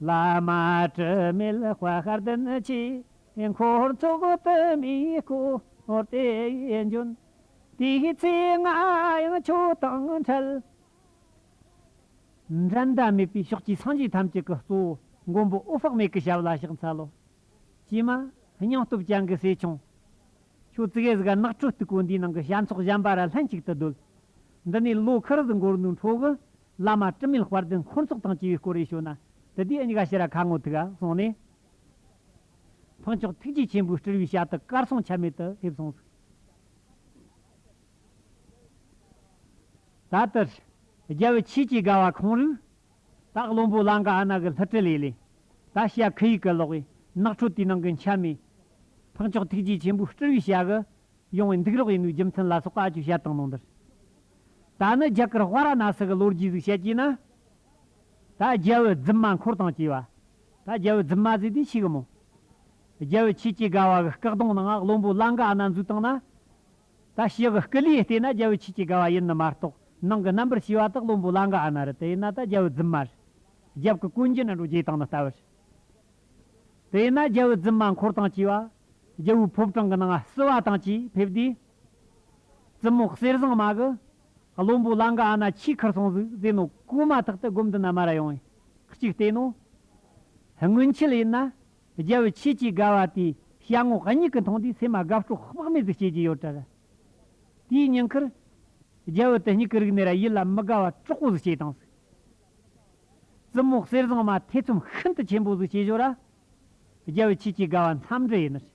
བླ་མ་དྲི་མེད་དཔའ་ཤར་བདུན་གྱི་འཁོར་ཚོགས་དུ་མའི་སྐོར་དེ་འབྱོན། དེའི་ཚེ་ང་ཡང་ཁྱོད་དང་འཕྲད། འགྲན་ཟླ་མེད་པའི་ཕྱོགས་ཀྱི་སངས་རྒྱས་ཐམས་ཅད་ཀྱི་གཙོ་བོ་མགོན་པོ་ཨུ་ཕག་མེད་ཀྱི་ཞབས་ལ་ཕྱག་འཚལ་ལོ། ཀྱེ་མ། སྙིང་སྟོབས་ཅན་གྱི་སྲས་ཆུང། ཁྱོད་ཙི་གེ་ཟི་ག་ནགས་ཁྲོད་སྟུག་པོ་འདིའི་ནང་གི་བྱ་ཚོགས་གཞན་པ་ར་ལྷན་ཅིག་ཏུ་སྡོད། འདི་ནས་ལོ་ཁར་ཟི་འགོར་ནུ་འཕྲོ་གི་བླ་མ་དྲི་མེད་དཔལ་ལྡན་འཁོར་ཚོགས་དང་བཅས་པའི་སྐོར་རེ་ཞུ་ན། དེ་དུས་ཨེ་འགའ་ཤེས་ར་ཁ་ངོ་ཐུག་ཨ་གསུངས་ནས། ཕུན་མཆོག་ཐུགས་རྗེ་ཆེན་པོའི་སྤྲུལ་བའི་ཞལ་དུ་དཀར་གསུང་ཆད་མེད་དུ་ཕེབས་སོང། ད་ལྟར། རྒྱལ་བའི་ཆོས་ཀྱི་དགའ་བ་ཁོང་རུས། ད་བློན་པོ་ལང་ཀ་ཨ་ནག་གི་ལྷུ་སྤྲུལ་ལས་ལས། ད་ཤ་ཁུ་ཡིག་གི་ལོག་བའི་ནགས་ཁྲོད་དུས་ནང་གི་འཆལ་མེད། ཕུན་མཆོག་ཐུགས་རྗེ་ཆེན་པོའི་སྤྲུལ་བའི་ཞལ། ཡོང་བའི་འདུག་རོགས་ཡིན་ནུས་རྒྱུ་མཚན་ལ་སོགས་ཀ་ཅུ་བཤད་དང་ནང་འདིར། ད་ནི་རྒྱ་གར་བྷ་ར་ན་སི་གི་ལོ་རྒྱུས་གཟིགས་བཤད་ཀྱིས་ན། ད་རྒྱལ་བོའི་རྫུན་མ་འཁོར་དང་བཅས་པ། ད་རྒྱལ་བོའི་རྫུན་མ་གཟིགས་དུས་འཆི་གི་མོ། རྒྱལ་བོའི་ཆོས་སྐྱེས་དགའ་བ་གི་སྐག་གདོང་ནང་བློན་པོ་གླང་ག་ན་འཛུལ་དང་ན། ད་ཞི་གི་སྐུ་ལུས་བལྟས་ན་རྒྱལ་བོའི་ཆོས་སྐྱེས་དགའ་བ་ཡིན་ནི་མ་རྟོགས་ནང་གི་རྣམ་པར་ཤེས་པ་དག་བློན་པོ་གླང་ག་ན་རི་དེ་ཡིན་ན་ད་རྒྱལ་བོའི་རྫུན་མ་རི། རྒྱབ་ཀྱི་ཀུན་གྱི་ན་འགྲོ་རྗེས་དང་ནི་ལྟ་བུ་རི། དེ་ཡིན་ན་རྒྱལ་བོའི་རྫུན་མ་འཁོར་དང་བཅས་པ། རྒྱལ་བོའི་ཕོབ་གྲངས་གི་ནང་བསུ་བ་དང་བཅས་ཕེབས་དུས། རྩི་མོ་གསེར་ཟངས་མ་གི། བློན་པོ་གླང་གི་ཨ་ན་ཆོས་ཁར་སོང་ཟིག་ཟེར་ནོ་ཀུ་མ་ཐག་ཏུ་སྒོམ་དུ་ན་མ་ར་ཡོང། གཅིག་བལྟས་ནོ། སྔོན་ཆད་ཡིན་ན། རྒྱལ་བོའི་ཆོས་ཀྱི་དགའ་བ་དེ་བྱ་ངོ་གཉིས་ཀྱི་མཐོང་དུས་སེམས་མ་དགའ་སྤྲོ་དཔག་མེད་དུ་བྱེད་ཀྱི་ཡོད་གྲར། དེའི་ཉེན་ཁར། རྒྱལ་བོ་དེ་སྙིགས་ཀྱི་རིགས་ནི་ར་ཡིད་ལ་མི་དགའ་བ་དྲག་པོ་ཟིག་བྱེད་དང་ཟིག། རྩི་མོ་གསེར་ཟངས་མ་ཐེ་ཚོམ་ཤིན་ཏུ་ཆེན་པོ་ཟིག་བྱེད་ཞོར་ར། རྒྱལ་བོའི་ཆོས་ཀྱི་དགའ་བ་མཚམས་འདྲི་ཡིན་ནི་རེད།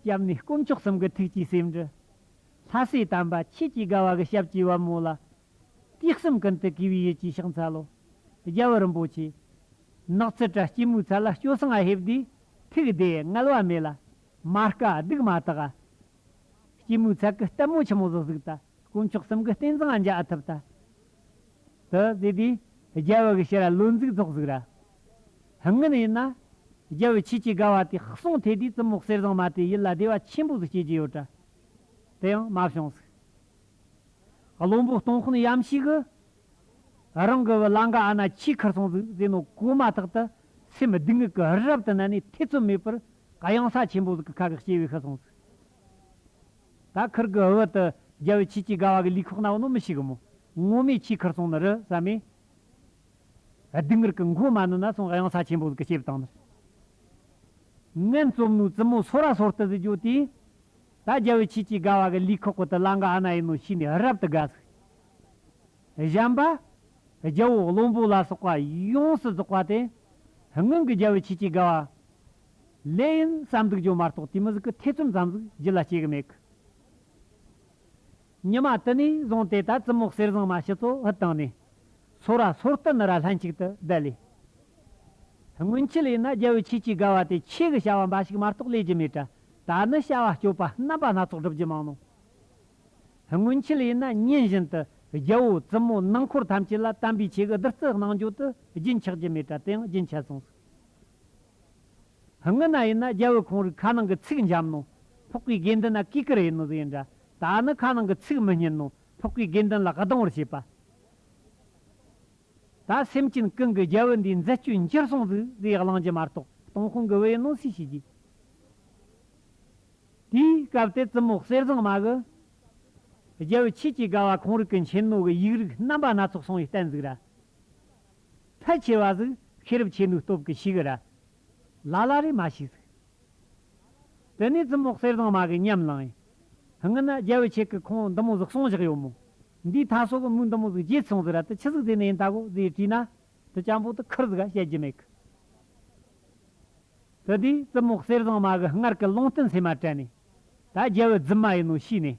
སྐྱབས་ནི་དཀོན་མཆོག་གསུམ་གྱི་ཐུགས་ཀྱི་སེམས་འགྲུ། ལྷ་སྲས་དམ་པ་ཆོས་ཀྱི་དགའ་བ་གི་ཞབས་ཀྱི་བ་མོ་ལ། སྐྱེ་གསུམ་ཀུན་ཏུ་གུས་པའི་ཡིད་ཀྱིས་ཕྱག་འཚལ་ལོ། རྒྱལ་བུ་རིན་པོ་ཆེ། ནགས་ཚལ་བཀྲ་སྐྱིལ་མོའི་ཚལ་ལ་སྐྱོ་སངས་ཨ་ཧེ་བདེ། ཐུགས་བདེ་བསྔལ་བ་མེད་ལ། མ་དཀའ་སྡུག་མ་དག་ཨ། སྐྱིལ་མོའི་ཚལ་གྱི་ལྟད་མོ་ཆེན་མོ་བཟོ་གཟུགས་དང། དཀོན་མཆོག་གསུམ་གྱི་རྟེན་བཟང་འཇགས་ཐུབ་ལྟ་དུ་བཟོས་ཏེ་རྒྱལ་བོ་གི་ཕྱི་ར་ལོ་འཛུགས་ཐོག་ཟུག་ར་ཧངན་ཡིན་ན། རྒྱལ་བོའི་ཆེད་ཀྱི་དགའ་བ་དེ་གསུངས་ཐད་དུས་བཙུན་མོ་གསེར་བཟང་མ་དེ་ཡིད་ལ་བདེ་བ་ཆེན་པོ་ཟིག་སྐྱེས་ཀྱི་ཡོད་གྲ་དེ་ཡང་མ་བྱུང་ཟིག། བློན་པོ་སྟོང་ཁོ་ནས་ཡམ་ཤིག་གི་རང་གི་བུ་ལང་ག་ཨ་ན་ཁྱིས་ཁར་སོང་ཟིག་ཟེར་ནོ་གོ་མ་ཐག་ཏུ་སེམས་སྡུག་བསྔལ་གྱི་རི་རབ་ཏུ་བསྣན་ནས་ཐེ་ཚོམ་མེད་པར་གཡང་ས་ཆེན་པོ་ཟིག་གི་ཁ་གི་སྐྱེ་བའི་ཤི་སོང་ཟིག། ད་ཁིར་གི་ཨུ་བྷི་དུ་རྒྱལ་བོས་ཁྱེད་ཀྱིས་དགའ་བ་གི་ལུས་ཁོག་ན་བོ་ནོ་མི་ཤིག་གི་མོ། སྔོ་མེད་ཁྱིའི་ཁིར་སོང་ནི་རི་བསམ་མེ། སྡུག་ངིར་གི་མགོ་མ་ནི་ན་སོང་གཡང་ས་ཆེན་པོ་གི་སྐྱེ་བཏང་ནི། ངན་བཙོམ་ནུའི་བཙུན་མོ་སོ་ར་སོར་ཏི་ཟི་རྒྱོ་དེས། ད་རྒྱལ་བོས་ཁྱེད་ཀྱིས་དགའ་བ་གི་ལུས་ཁོག་གི་ཏི་ལ་འགའ་ཨ་ན་ཡིན་ནོ་ཤི་ནས་རབ་ཏུ་དགའ་ཟིག། བཞམས་པ། རྒྱལ་བོ་བློན་པོ་ལ་སོགས་པ་ཡོངས་སུ་རྫོགས་པ་དེ། སྔོན་གི་རྒྱལ་བོས་ཁྱེད་ཀྱིས་དགའ་བ། ལེ་ཡིན་བསམ་འདུག་ཇོ་མ་གཏོགས་དེ་མི་ཟིག་གི་ཐེ་ཚོམ་ཙམ་ཟིག་རྒྱུ་ལ་སྐྱེ་གི་མེད་གི། ཉི་མ་དུ་ནས་བཟུང་དེ་ལྟར་ཙི་མོག་གསེར་བཟང་མ་ཕྱི་ཚོ་ཧུད་བཏང་ནས། ཚོ་ར་ཚོར་བསྟི་ནི་ར་ལྷན་ཅིག་ཏུ་བསྡད་ལས། སྔོན་ཆད་ཡིན་ན་རྒྱལ་བོའི་ཆོས་ཀྱི་དགའ་བ་དེ་ཆོས་ཀྱི་བྱ་བ་འབའ་ཞིག་མ་གཏོགས་ལས་ཀྱི་མེད་གྲ་ད་ནི་བྱ་བ་སྤྱོད་པ་རྣམ་པ་སྣ་ཚོགས་སྒྲུབ་ཀྱི་མང་ནོ། སྔོན་ཆད་ཡིན་ན་ཉིན་བཞིན་དུ་རྒྱལ་བོ་ཙི་མོ་ནང་འཁོར་ཐམས་ཅད་ལ་དམ་པའི་ཆོས་ཀྱི་བདུད་རྩི་གནང་རྒྱུ་དེ་རྒྱུན་ཆགས་ཀྱི་མེད་གྲ་དེ་ཡང་རྒྱུན་ཆད་སོང་ཟིག། སྔོན་ན་ཡིན་ན་རྒྱལ་བོའི་ཁོང་རིགས་ཁ་ནང་གི་ཚིག་འཇམ་ནོ། ཕོག་པའི་དགེ་འདུན་ལ་གུས་ཀྱི་རེ་ནོ་ཟེར་འདྲ། ད་ནི་ཁ་ནང་གི་ཚིག་མི་སྙན་ནོ། ཕོག་པའི་དགེ་འདུན་ལ་གདུང་བར་བྱེད་པ། ད་སེམས་ཅན་ཀུན་གྱི་རྒྱལ་བོ་འདིའི་མཛད་སྤྱོད་འགྱུར་སོང་ཟིག་ཟེར་གླང་རྒྱུད་མ་གཏོགས་སྟོང་ཁོང་གི་བའི་ནོ་སུས་ཤེས་ཀྱི། དེའི་སྐབས་དེར་བཙུན་མོ་གསེར་བཟང་མ་གི། རྒྱལ་བོའི་ཆོས་ཀྱི་དགའ་བ་ཁོང་རིགས་ཀྱི་མཁྱེན་ནོ་གི་ཡིག་རིགས་རྣམ་པ་སྣ་ཚོགས་སོང་བའི་བསྟན་ཟིག་ར། ཕལ་ཆེ་བ་གཟུགས་ཤེས་རབ་ཆེ་ནུའི་སྟོབས་ཀྱིས་ཤི་གི་ར་ལ་ལ་རེ་མ་ཤི་ཟིག། དེ་ནས་ཙུམ་འོག་གསེར་ཟངས་མ་གི་ཉམས་བླངས་ཡིན། ཧིན་ན་རྒྱལ་བོའི་ཆེད་ཀྱི་ཁོང་འདི་མོ་གཟུགས་སོང་བཞག་ཡོད་མོ། འདིའི་མཐའ་སོགས་ཀྱི་མུས་འདི་མོ་གཟུགས་རྗེས་སོང་ཟིག་ར་དེ་ཆི་ཟིག་དེ་ནས་ཡིན་ད་གོ་ཟིག་ཡིན་དྲིས་ན། དེ་ཅང་པོ་དུ་ཁུར་ཟིག་ག་བཤད་རྒྱུ་མེད་གི། དེ་དུས་ཙུམ་འོག་གསེར་ཟངས་མ་གི་སྔར་གྱི་ལུང་བསྟན་ཚད་མ་དྲན་ནས། ད་རྒྱལ་བོའི་རྫུན་མ་ཡིན་ནོ་ཤི་ནས་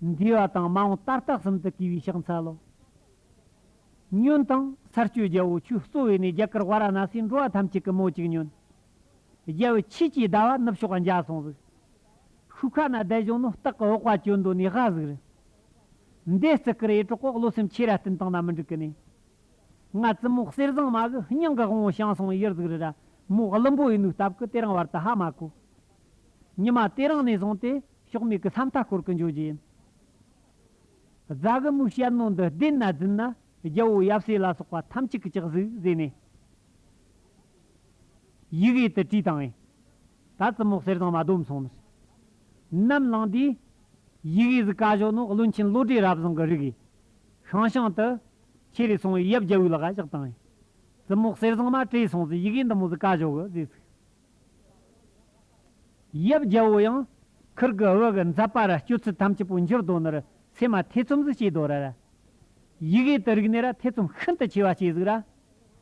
འདུས་བ་དང་མ་འོངས་ལྟར་རྟགས་གསུམ་དུ་གུས་པའི་ཕྱག་འཚལ་ལོ། སྨྱོན་དང། ཚར་གཅོད་རྒྱལ་པོ་ཆུའི་གཙོ་བོས་ནི་རྒྱ་གར་བཱ་ར་ན་སིའི་འགྲོ་བ་ཐམས་ཅད་ཀྱི་མོ་གཅིག་སྨྱོན། རྒྱལ་པོའི་ཆོས་ཀྱིས་ཟླ་བ་ནུབ་ཕྱོགས་འཇའ་སོང་གཟིགས། ཤུ་ཁ་ན་བདལ་བྱུང་ནོ་སྟག་གི་འོག་བ་ཅོ་འདོད་ནས་ཧ་གཟིགས་རི། འདས་བརྩི་ཀི་རེ་ཀྲོ་ཀོག་ལོ་སེམས་ཆེ་ར་སྟེན་དང་ན་མི་འགྲིག་གི་ནས། ང་བཙུན་མོ་གསེར་བཟང་མ་གི་སྙིང་གི་དབང་བོ་ཤང་སོང་ཡིར་གཟིགས་རི་ར་མོ་བླུན་པོ་ཡི་ནུས་སྟབས་ཀི་དེ་རིང་བར་དུ་ཧ་མ་གོ། ཉི་མ་དེ་རིང་ནས་བཟུང་སྟེ་ཕྱོགས་མེད་ཀྱི་ས་མཐའ་བསྐོར་གྱི་འཇོ་རྗེས། རྫ་གི་མུག་ཤལ་རྣོ་འདི་བརྡེག་ན་རྫུན་ན། རྒྱལ་པོ་ཡབ་སྲས་ལ་སོགས་པ་ཐམས་ཅད་ཀྱི་ལྕགས་གཟུགས་བཟས་ནས། ཡི་གེ་དུ་བྲིས་དང། ད་རྩི་མོག་གསེར་བཟང་མ་སྡོམ་སོང་ནས། ནམ་བླངས་དུས། ཡི་གེ་གཟུགས་ཀ་བཞོ་ནོ་བློན་ཆེན་བློ་གྲོས་རབ་བཟང་གི་རིགས། ཤང་ཤང་དུ། ཁྱེད་རེ་སོང་བས་ཡབ་རྒྱལ་བོའི་ལག་ག་བཞག་དང། རྩི་མོག་གསེར་བཟང་མ་བྲིས་སོང་ཟིན་ཡི་གེ་འདི་མོ་གཟུགས་ཀ་བཞོ་གི་བཟས་ཚུགས། ཡབ་རྒྱལ་བོ་ཡང་ཁུར་གི་འོད་གི་འཛབ་པ་ར་སྤྱོད་ཚུལ་ཐམས་ཅད་པོ་འགྱུར་ལྡོག་ནི་རུ་ཚེ་མ་ཐེ་ཚོམ་གཟིགས་བྱེད་དོ་ར། ཡིག་ཡིད་དུ་རིག་ནས་ར་ཐེ་ཚོམ་ཤིན་ཏུ་ཆེ་བ་སྐྱེ་གཟིགས་ར།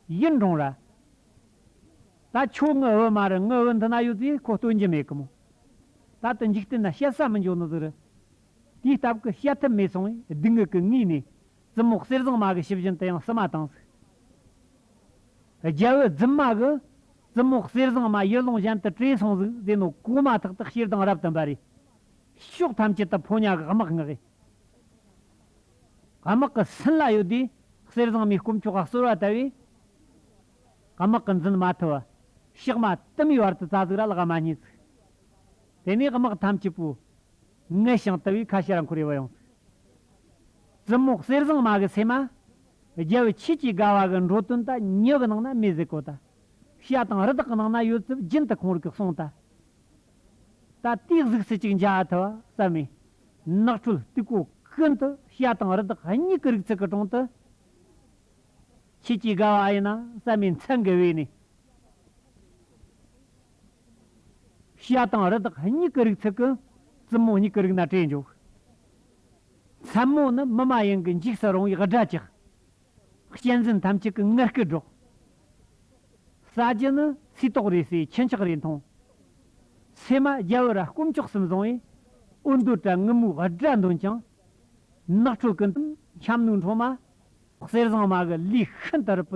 ཡིད་འབྲོང་ར། ད་ཁྱོད་ངུ་འོད་མ་རུ་ངུ་འོད་འདི་ན་ཡོད་ཚེ་ཁོ་སྟོན་གྱི་མེད་གི་མོད། ད་དུ་འཇིག་རྟེན་ན་བཤད་ས་མི་འབྱུང་ནི་ཟེར། དེའི་སྟབས་ཀྱི་བཤད་ཐབས་མེད་སོང་བས་སྡུག་བསྔལ་གྱི་ངུས་ནས་རྩི་མོག་གསེར་བཟང་མ་གི་ཕྱི་བཞིན་དུ་ཡང་བསིལ་མ་དང་གཟུགས། རྒྱལ་བུ་རྫུན་མ་གི། རྩི་མོག་གསེར་བཟང་མ་ཡུལ་ལུང་གཞན་དུ་བྲེས་སོང་གཟུགས་ཟས་ནོར་གོ་མ་ཐག་ཏུ་ཤེར་དང་རབ་ཏུ་འབར་རེ། ཕྱོགས་ཐམས་ཅད་དུ་ཕོ་ཉ་གི་དམག་ངག་ཡེ། དམག་གི་སྲིན་ལ་ཡོད་དུས་གསེར་བཟང་མའི་སྐོམ་ཆུ་ཁ་གསོལ་བ་ལྟ་བུས། དམག་གི་འཛིན་མ་ཐུ་བ། ཕྱགས་མ་དུ་མའི་བར་དུ་རྩ་གཟུགས་ར་ལག་མ་གཉིས་གཟུགས། དེ་ནས་དམག་ཐམས་ཅད་པོའི། མངལ་ཞིང་ལྟེ་བའི་ཁ་ཤས་ལ་འཁོར་བའི་བ་ཡང་ཟེར། རྩི་མོག་གསེར་ཟངས་མ་གི་ཚེར་མ། རྒྱལ་བའི་ཁྱེད་ཀྱིས་དགའ་བ་གི་འགྲོ་དོན་ད་ཉི་གི་ནང་ན་མེ་བཟའི་གོ་ད། ཤ་དང་རི་དྭགས་གི་ནང་ན་ཡོད་རྩིབས་རྒྱུན་དུ་ཁོང་རིག་གི་གསུང་ད། ད་ལྟའི་གཟུགས་སྲིད་ཅིག་འཇའ་ཐུ་བ་ཟབ་མོའི་ནགས་ཁྲོད་སྟུག་པོ་ཀུན་ཏུ་ཤ་དང་རི་དྭགས་གཉིས་ཀྱི་རིག་རྩལ་གྱི་གྲོང་དུ། ཁྱེད་ཀྱིས་དགའ་བ་ཨ་ཡེ་ན་ཟབ་མོའི་མཚན་གྱི་དབུས་ནས། བྱ་དང་རི་དྭགས་གཉིས་ཀྱི་རིགས་ཚིག་གི་རྩི་མོ་གཉིས་ཀྱི་རིགས་ན་དྲེས་འཇོག། མཚན་མོ་ནི་མི་མ་ཡིན་གྱི་འཇིགས་སུ་རུང་བའི་སྒྲ་བཅག། གཅན་གཟན་ཐམས་ཅད་ཀྱི་ངར་སྐད་སྒྲོག། ས་བརྒྱད་ནི་སུས་དོགས་རེ་སའི་ཁྱི་འཁྱག་རེ་མཐོང། ཚེས་མ་རྒྱལ་བོ་ར་སྐོམ་ལྕོག་གསུམ་བཟང་བས་འུར་མདོ་བྲལ་ངུ་མོའི་སྒྲ་འདོན་ཀྱང། ནགས་ཁྲོད་ཀྱི་འཁྱམ་ནུ་འཕྲོག་མ། གསེར་བཟང་མ་གི་ལུས་ཤིན་ཏུ་རིད་པོ།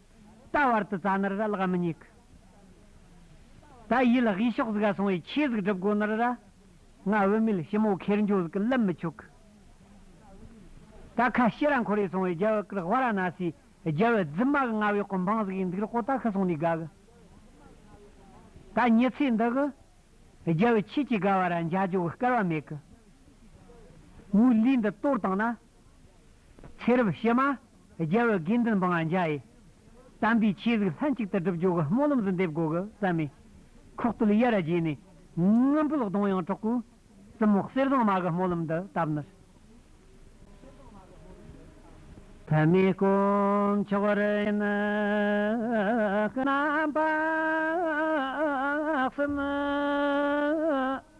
ད་བར་དུ་རྩ་ནར་ར་བརླག་མི་ཉེས་ཀི། ད་ཡིད་ལ་ཧི་ཤོག་ཟིག་ཨ་སོང་བའི་ཆོས་ཟིག་སྒྲུབ་དགོས་ནར་ར། ང་བུད་མེད་ཞི་མོ་ཁེར་འགྱོ་ཟིག་གི་ལབ་མི་ཆོག་གི། ད་ཁ་ཤི་ར་འཁོར་ཡི་སོང་བའི་རྒྱལ་བུ་ཀིར་བྷ་ར་ན་སིའི་རྒྱལ་བུ་རྫི་མ་གི་ང་བའི་གོ་འཕང་ཟིག་ཡིན་འདུག་ར་ཀོ་ད་ཁི་སོང་ནས་དགའ་གི། ད་ཉི་ཚེ་འདི་གི། རྒྱལ་བུ་ཁྱེད་ཀྱིས་དགའ་བ་ར་འཇའ་ཇོ་གི་སྐལ་བ་མེད་གི། མོའི་ལུས་འདི་གཏོར་བཏང་ན་ཚེ་རབས་གཤེད་མ། རྒྱལ་བའི་དགེ་འདུན་འབངས་ལ་འཇའ་ཡིས། དམ་པའི་ཆོས་གཟིགས་ལྷན་ཅིག་ཏུ་སྒྲུབ་སྦྱོར་གྱི་སྨོན་ལམ་གཟི་འདེབས་སྒོ་གི་རྩ་མེ། ཁོག་སྟོད་གཡའ་ར་བརྒྱད་ནས། རྔམ་ཕུལ་གདོང་ཡངས་གྲོག་པོའི། གཙུམ་མོ་གསེར་ཟངས་མ་གི་སྨོན་ལམ་འདི་བཏབ་ནས། ཐ་མའི་དཀོན་མཆོག་རི་ཡིན་རྣམ་པར་གསུམ།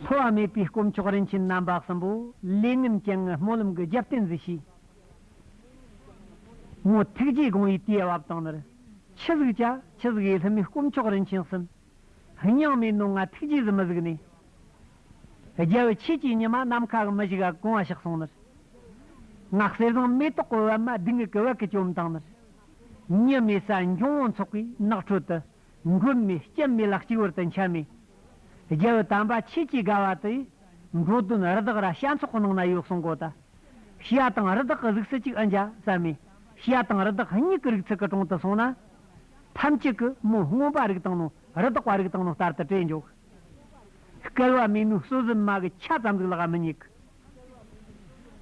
འཚོ་བ་མེད་པའི་དཀོན་མཆོག་རིན་ཆེན་རྣམ་པ་གསུམ་པོ་ལས་ངན་སྐྱེ་ངན་སྨོན་ལམ་གྱི་རྒྱབ་རྟེན་གཟིགས་ཤིག། མོ་ཐུགས་རྗེས་དགོངས་པའི་དུས་བབ་དང་ནི། ཁྱི་གཟུགས་བྱ་ཁྱི་གཟུགས་ཡུལ་ལྷུན་མའི་དཀོན་མཆོག་རིན་ཆེན་གསུམ། སྙིང་མའི་རྣོ་ངར་ཐུགས་རྗེས་སུ་མི་གཟིགས་ནས། རྒྱལ་བའི་ཆོས་ཀྱི་ཉི་མ་ནམ་མཁའ་གི་མི་བཞུགས་ཨ་གུང་བ་ཞིག་གསུངས་ནི། ངག་གསེར་ཟངས་མེ་ཏོག་གི་བལ་མ་སྡིག་ངེས་ཀྱི་བལ་གྱིས་བཅོམ་དང་ནི། ཉི་མའི་ས་འབྱུང་དབང་ཚོགས་པའི་ནགས་ཁྲོད་དུ། མགོན་མེད་སྐྱེམས་མེད་ལག་གཅིག་བར་དུ་འཆད་མེད། རྒྱལ་བུ་དམ་པ་ཁྱེད་ཀྱི་དགའ་བ་དེ། འགྲོ་དོན་རི་དྭགས་ར་ཤ་མཚོག་ནང་ན་ཡོད་གསུང་གོ་ད། ཤི་ཡ་དང་རི་དྭགས་ཀྱི་རིགས་སུ་གཅིག་ཨ་འཇའ་ཟ་མེད། ཤི་ཡ་དང་རི་དྭགས་གཉིས་ཀྱི་རིགས་ཚིག་གི་དྲུང་དུ་སོང་ན། ཐམས་ཅད་ཀྱི་མོ་སྔོན་པ་རིགས་དང་ནོ་རི་དྭགས་པ་རིགས་དང་ནོ་ལྟར་དུ་བྲེལ་འཇོག། སྐལ་བ་མེད་མོས་གསོད་གཟིམ་མ་གི་ཆ་ཙམ་ཟིག་ལ་ག་མི་ཉེ་གི།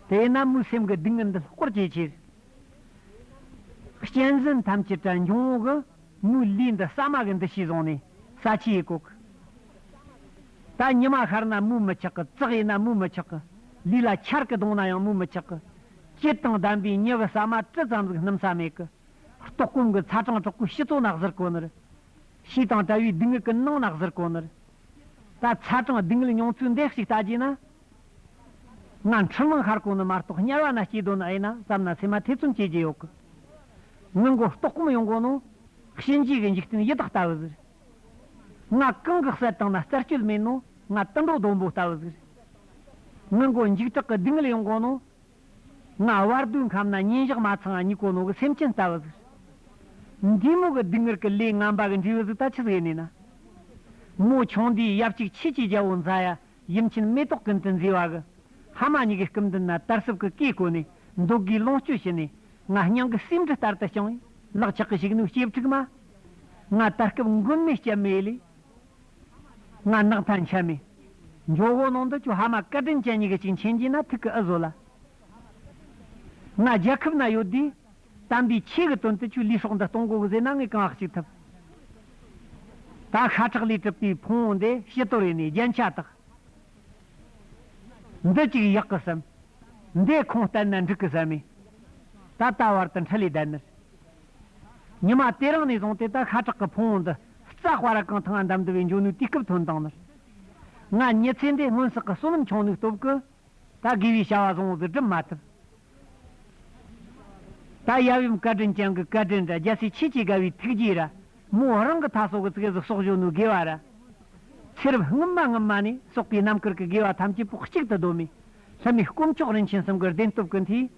དེས་ན་མོའི་སེམས་ཀྱི་སྡུག་བསྔལ་འདི་ལྷོད་སྐོར་བྱེད་ཕྱིར། གཅན་གཟན་ཐམས་ཅད་དྲན་བྱུང་འོག་གི་མུའུ་ལི་འདི་ས་མ་གི་འདི་ཞེས་བཟུང་ནས་ས་ཆི་ཡིས་བཀོག། ད་ཉི་མ་ཤར་ན་མུའུ་མི་ཆགས་ཀི་བཙག་ཡིན་ན་མུའུ་མི་ཆགས་ཀི་ལུས་ལ་ཆར་གི་བརྡུངས་ན་ཡང་མུའུ་མི་ཆགས་ཀི་དཔྱིད་དང་ལྡན་པའི་མྱི་གི་ས་མ་ཀྲི་ཙམ་ཟིག་སྣུམ་ས་མེད་ཀི་ལྟོགས་སྐོམ་གི་ཚ་གྲང་དྲག་པོའི་ཤི་ཙོ་ནག་ཟིར་གོ་ནི་རི་ཤི་དང་བྲལ་བའི་སྡུག་བསྔལ་གི་སྣང་ནག་ཟིར་གོ་ནི་རི་ད་ཚ་གྲང་སྡུག་བསྔལ་མྱོང་ཚུལ་འདེགས་ཤིག་བལྟ་རྒྱུ་ན། ང་འཕྲུལ་མང་ཤར་གོང་ནས་མ་གཏོགས་དམྱལ་བ་ན་སྐྱིད་དོ་ན་ཨེ་ན་བསམ་ན་ཚེ་མ་ཐེ་ཚོམ་སྐྱེ་གྱི་ཡོད་གི། ངའི་མགོ་ལྟོགས་གོམ་ཡོང་གོང་ནོ། གཤིན་རྗེ་གི་འཇིག་རྟེན་ཡི་དྭགས་ལྟ་བུ་ཟིག། ང་གང་གི་གསལ་སྟངས་ན་རྩར་སྐྱོད་མིན་ནོ་ང་དུད་འགྲོ་ལྡོམ་པོ་ལྟ་བུ་ཟིག། ངའི་མགོ་འཇིགས་སྐྲག་གི་སྡུག་བསྔལ་ཡོང་གོང་ནོ། ང་བར་དོའི་ཁམས་ན་ཉིན་ཞག་མ་ཚང་བ་གཉིད་གོ་ནོ་གི་སེམས་ཅན་ལྟ་བུ་ཟིག། འདི་མོ་གི་སྡུག་བསྔལ་གི་ལས་ངན་པ་གི་འབྲས་བུ་ཟིག་ད་ཅི་ཟེར་ནུས་ན། མོ་ཆུང་འདིའི་ཡབ་གཅིག་ཁྱེད་ཀྱི་རྒྱལ་པོ་མཛའ་ཡ་ཡུམ་ཆེན་མེ་ཏོག་ཀུན་ཏུ་མཛེས་པ་གི། ཧ་མ་ཉི་གའི་སྐུ་མདུན་ན་དར་ཟབ་ཀྱི་བཀས་བསྐོས་ནས། འདོད་དགུའི་ལོངས་སྤྱོད་བྱིན་ནས། ང་སྙིང་གི་སེམས་འདི་ལྟར་དུ་བྱིང། ལག་ཆགས་ཀྱི་བྱིང་ནུས་སྐྱེ་ཕྲུག་མ། ང་དར་སྐབས་མགོན་མེད་སྐྱབས་མེད་ལས། ང་ནགས་མཐའ་འཆའ་མེད། ཇོ་བོ་ནང་དུ་ཁྱོད་ཧ་མ་བཀའ་དྲིན་ཅན་ཉི་ག་ཅིག་མཁྱེན་གྱིས་ན་ཐུགས་ཀྱི་ཨུ་བཟོ་ལ། ང་རྒྱལ་ཁབ་ན་ཡོད་དུས། དམ་པའི་ཆོས་ཀྱི་དོན་དུ་ཆུ་ལུད་སོགས་འདི་སྟོང་གོ་གི་ཟས་སྣ་ལྔས་གང་ཧག་ཅིག་ཐུབ། ད་ཤ་ཁྲག་ལས་གྲུབ་པའི་ཕུང་བོ་འདི་ཕྱི་དོར་བས་ནས་རྒྱན་ཆ་དག། འདི་ཅིག་གཡག་གི་སེམས། འདི་ཁོང་བསྟན་ན་འབྲུག་གི་ཟན་མེད། ད་ལྟ་བར་དུ་འཕྲིན་ལས་བདལ་མེད། ཉི་མ་དེ་རིང་ནས་བཟུང་སྟེ་ད་ཤ་ཁྲག་གི་ཕུང་བོ་འདི་རྩ་སྤར་བ་གང་ཐང་ང་འདམ་འདུ་བའི་འབྱུང་ནུས་དུས་སྐབས་ཐོན་དང་ནི། ང་ཉི་ཚེ་འདི་སྔོན་བསགས་ཀྱི་བསོད་ནམས་ཆུང་ནུས་སྟོབས་ཀྱིས། ད་དགེ་བའི་བྱ་བ་བཟང་བོ་འདི་སྒྲུབ་མ་ཐུབ། ད་ཡབ་ཡུམ་བཀའ་དྲིན་ཅན་གྱི་བཀའ་དྲིན་དང་རྒྱལ་སྲས་ཆོས་ཀྱི་དགའ་བའི་ཐུགས་རྗེའི་ར་མོ་བོ་རང་གི་མཐའ་སྲོག་གི་ཙིག་གཟུགས་སྲོག་གཞུང་ནུས་དགེ་བ་ར་ཚེ་རབས་སྔོན་མ་སྔོན་མ་ནས་སོག་པའི་རྣམ་དཀར་གྱི་དགེ་བ་ཐམས་ཅད་པོག་གཅིག་ཏུ་གདོད་མའི་ལྷ་མི་དཀོན་མཆོག་རིན་ཆེན་གསུམ་གྱི་བདེན་སྟོབས་ཀྱི་མཐུས།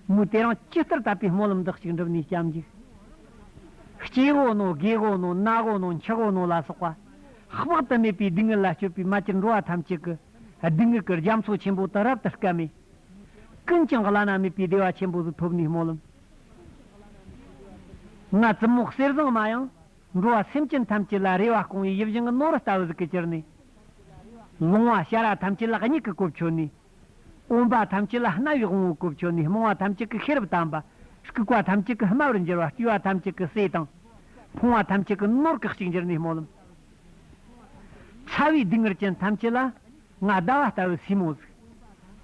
མོས་དེ་རང་ཅི་ལྟར་དད་པའི་སྨོན་ལམ་འདི་གཅིག་འགྲུབ་ནས་སྐྱབས་འཇུག། སྐྱེ་དགོས་ནོ་དགེ་དགོས་ནོ་གནའ་དགོས་ནོ་འཆི་དགོས་ནོ་ལ་སོགས་པ། དཔག་ཏུ་མེད་པའི་སྡུག་བསྔལ་ལ་སྤྱོད་པའི་མ་ཅིག་འགྲོ་བ་ཐམས་ཅད་ཀྱི། སྡུག་བསྔལ་གྱི་རྒྱ་མཚོ་ཆེན་པོ་དང་རབ་ཏུ་སྐལ་མེད། ཀུན་ཀྱང་བླ་ན་མེད་པའི་བདེ་བ་ཆེན་པོ་དེ་ཐོབ་ནས་སྨོན་ལམ། ང་བཙུན་མོ་གསེར་བཟང་མ་ཡང། འགྲོ་བ་སེམས་ཅན་ཐམས་ཅད་ལ་རེ་བ་སྐོང་བའི་ཡིད་བཞིན་གྱི་ནོར་ལྟ་བུ་ཟིག་གི་གྱུར་ནས། ལོང་བ་ཤ་ར་ཐམས་ཅད་ལ་སྙིགས་ཀྱི་སྐུ་བྷྱོ་ནས། འོན་པ་ཐམས་ཅད་ལ་རྣ་བའི་དབང་བོའི་སྐུ་བྷྱོ་ནས་རྨོངས་བ་ཐམས་ཅད་ཀྱི་ཤེས་རབ་དམ་པ། སྐུགས་པ་ཐམས་ཅད་ཀྱི་དམའ་བར་འགྱུར་བ་བསྐྱུས་བ་ཐམས་ཅད་ཀྱི་ཟས་དང། ཕོངས་བ་ཐམས་ཅད་ཀྱི་ནོར་གེགས་ཤིག་འགྱུར་ནས་སྨོན་ལམ། ཕྲ་བའི་སྡུག་བསྔལ་ཅན་ཐམས་ཅད་ལ་ང་ཟླ་བ་ལྟ་བུའི་སྲིན་མོ་གཟིགས།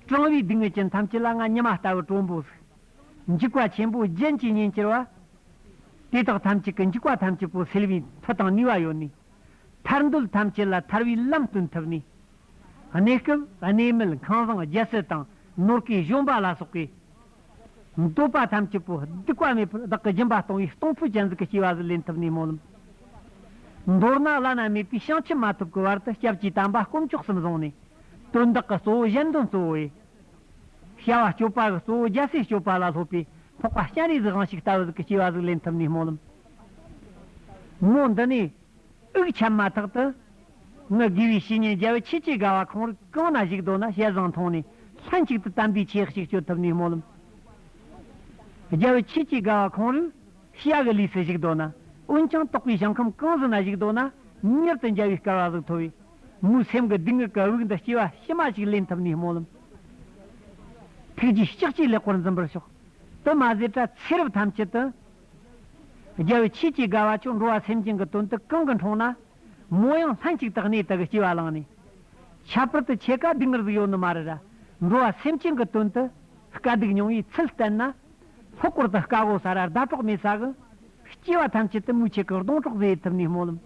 གྲང་བའི་སྡུག་བསྔལ་ཅན་ཐམས་ཅད་ལ་ང་ཉི་མ་ལྟ་བུའི་གྲོག་འབུ་གཟིགས། འཇིགས་པ་ཆེན་པོའི་རྒྱན་གྱིས་ཉེན་ཅེར་བ། དེ་དག་ཐམས་ཅད་ཀྱི་འཇིགས་པ་ཐམས་ཅད་པོ་སེལ་བའི་མཐུ་དང་ནུས་པ་ཡོད་ནི། ཐར་འདོད་ཐམས་ཅད་ལ་ཐར་བའི་ལམ་སྟོན་ཐུབ་ནི། གནས་སྐབས་གནས་མལ་ཁང་བཟང་རྒྱལ་སྲིད་དང་ནོར་སྐལ་གཞོན་པ་ལ་སོགས་པའི། འདོད་པ་ཐམས་ཅད་པོ་སྡིག་པ་མེད་པར་བདག་གི་སྦྱིན་པ་གཏོང་བའི་གཏོང་ཕོད་ཅན་གཟུགས་ཀྱི་སྐྱེ་བ་གཟུགས་ལེན་ཐུབ་ནས་སྨོན་ལམ་འདོར་ན་བླ་ན་མེད་པའི་བྱང་ཆུབ་མ་ཐོབ་ཀྱི་བར་དུ་སྐྱབས་ཀྱི་དམ་པ་དཀོན་མཆོག་གསུམ་བཟུང་ནས། དོན་དག་གི་གཙོ་བོ་གཞན་དོན་གཙོ་བོ་ཡིན། བྱ་བ་སྤྱོད་པ་གི་གཙོ་བོ་རྒྱལ་སྲས་སྤྱོད་པ་ལ་སློབ་པའི་ཕོག་པ་སྤྱན་རས་གཟིགས་དབང་ཞིག་ལྟ་བུ་གཟུགས་ཀྱི་སྐྱེ་བ་གཟུགས་ལེན་ཐུབ་ནས་སྨོན་ལམ་མོ། འདི་ནས་དབུགས་ཆད་མ་ཐག་ཏུ། ངུ་དགེ་བའི་བཤེས་གཉེན་རྒྱལ་བུ་ཆོས་ཀྱི་དགའ་བ་ཁོང་རུ་གང་ན་བཞུགས་དོ་ན་བཤད་བཟང་མཐོང་ནས་ལྷན་ཅིག་ཏུ་དམ་པའི་ཆས་གཅིག་གཅོད་ཐུབ་ནས་སྨོན་ལམ། རྒྱལ་བུ་ཆོས་ཀྱི་དགའ་བ་ཁོང་རུ་ཤཱ་གི་ལུས་སུ་བཞུགས་དོ་ན་འོན་ཀྱང་རྟོགས་པའི་ཞིང་ཁམས་གང་ཟི་ན་བཞུགས་དོ་ན་མྱུར་དུ་འཇའ་བའི་སྐལ་བ་གཟུགས་ཐོབ་བས། མོའི་སེམས་ཀྱི་སྡུག་བསྔལ་གྱི་དབུགས་འདི་ལྕི་བ་ཕྱི་མ་ཞིག་ལེན་ཐུབ་ནས་སྨོན་ལམ། ཐུགས་རྗེའི་ལྕགས་ཀྱིས་ལེགས་པོར་འཛིན་པར་ཤོག། དུ་མ་ཟད་པྲ་ཚིལ་རབ་ཐམས་ཅད་དུ། རྒྱལ་བུ་ཆོས་ཀྱི་དགའ་བ་ཁྱོད་འགྲོ་བ་སེམས་ཅན་གྱི་དོན་དུ་གང་གི་འཕྲོང་ན། མོ་ཡང་ལྷན་ཅིག་ཏུ་གནས་དག་སྐྱེ་བ་བླངས་ནས། ཁྱད་པར་དུ་ཆེ་ཀ་སྡུག་བསྔལ་གཟུགས་ཡོད་ནི་མ་རེད་ར། འགྲོ་བ་སེམས་ཅན་གྱི་དོན་དུ། དཀའ་སྡུག་མྱོང་བའི་ཚུལ་བསྟན་ན། ལྷོ་སྐོར་དུ་དཀའ་བོ་ཟ་ར་ཟླ་གྲོགས་མེད་ས་གི། སྐྱེ་བ་ཐམས་ཅད་དུ་མུ་ཆེ་གི་སྡོང་གྲོགས་ཟས་ཐུབ་ནས་སྨོད་ལམ།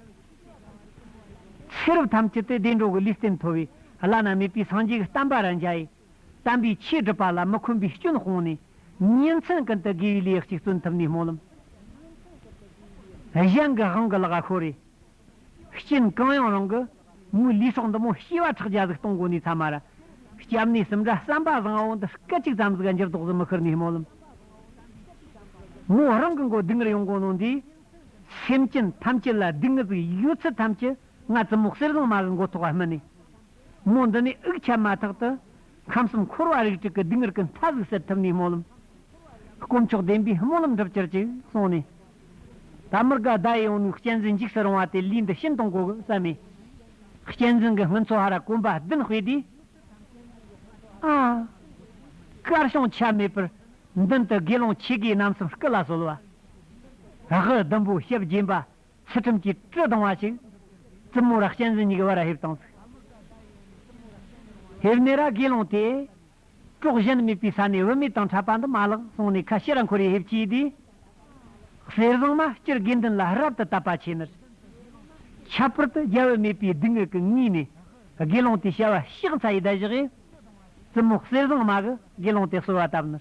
ཚེ་རབས་ཐམས་ཅད་དུ་བདེ་འགྲོ་གི་ལུས་རྟེན་མཐོ་བའི་བླ་ན་མེད་པའི་སངས་རྒྱས་ཀྱི་གཏམ་པ་ར་མཇལ་ཡས། དམ་པའི་ཆོས་སྒྲུབ་པ་ལ་མི་འཁོན་པའི་སྐྱོན་སྤོང་ནས། གཉེན་ཚན་ཀུན་ཏུ་དགེ་བའི་ལས་གཅིག་བརྩོན་ཐུབ་ནས་སྨོན་ལམ། གཞན་གྱི་དབང་གི་ལག་ཤོར་རེས། རྐྱེན་གང་ཡང་རང་གི། མོའི་ལུས་སྲོག་འདི་མོ་སྐྱེ་བ་ཕྲག་བརྒྱ་གཟུགས་སྟོང་གོ་ནས་ཚ་མ་ར། སྐྱབས་གནས་གསུམ་འདྲ་བསམ་པ་བཟང་བོ་འདི་སྐད་ཅིག་ཙམ་ཟིག་འགྱུར་ལྡོག་གཟི་མི་ཁུར་ནས་སྨོན་ལམ། མོ་རང་གི་མགོ་སྡིག་ངར་ཡོང་གོ་ནོ་འདི། སེམས་ཅན་ཐམས་ཅད་ལ་སྡིག་ངར་ཟིག་ཡོད་ཚུལ་ཐམས་ཅད་ང་ཙི་མོག་གསེར་གཟིང་མ་གི་མགོ་ཐོག་བར་སྨིན་ནས། མོ་འདི་ནས་དབུགས་ཆད་མ་ཐག་ཏུ། ཁམས་གསུམ་འཁོར་བ་རིགས་དྲུག་གི་སྡུག་བསྔལ་ཀུན་མཐའ་གཟུགས་གསེར་ཐུབ་ནས་སྨོན་ལམ། དཀོན་མཆོག་བདེན་པའི་སྨོན་ལམ་འགྲུབ་གྱུར་ཅིག་གསུངས་ནས། ད་མི་དགའ་བརྡ་ཡི་འོད་ནུས་གཅན་གཟན་འཇིགས་སུ་རུང་བ་དེ་ལུས་འདི་ཤིན་ཏུ་མགོ་གུག་ཟ་མས། གཅན་གཟན་གྱི་སྔུན་ཚོ་ཧ་ར་གོམ་པ་བདུན་སྤོས་དུས། ཨ། དཀར་ཞིང་ཆ་མེད་པར། མདུན་དུ་དགེ་སློང་ཆེ་གེ་རྣམ་གསུམ་སྐུ་ལ་གསོལ་བ། རག་ཧི་ཟླུམ་པོའི་ཞབས་བརྒྱན་པ། ཚུལ་ཁྲིམས་ཀྱིས་སྤྲོས་དང་བ་ཅིག། བཙུན་མོ་རག་ཅན་ཟིན་གཉིས་ཀྱི་བར་ཧེབ་དང་ཚིག། ཧེབ་ནས་ར་དགེ་སློང་དེས། གྲོགས་གཞན་དམིགས་པའི་ས་ནས་བུད་མེད་དང་འཕྲད་པ་འདི་མ་ལགས་གསུངས་ནས་ཁ་ཕྱེ་ར་འཁོར་ཡི་ཧེབ་ཀྱིས་དེའི། གསེར་བཟང་མ་སྤྱིར་དགེ་འདུན་ལ་རབ་ཏུ་བསྟབས་པ་ཆེ་མོད། ཁྱད་པར་དུ་རྒྱལ་བུ་མེད་པའི་སྡུག་བསྔལ་གྱི་ངུས་ནས་དགེ་སློང་དེས་བྱ་བ་གཤེགས་ཚ་ཡི་བརྡ་བཞག་ཡས། བཙུན་མོ་གསེར་བཟང་མ་གི་དགེ་སློང་དེ་གསོལ་བ་བཏབ་ནས།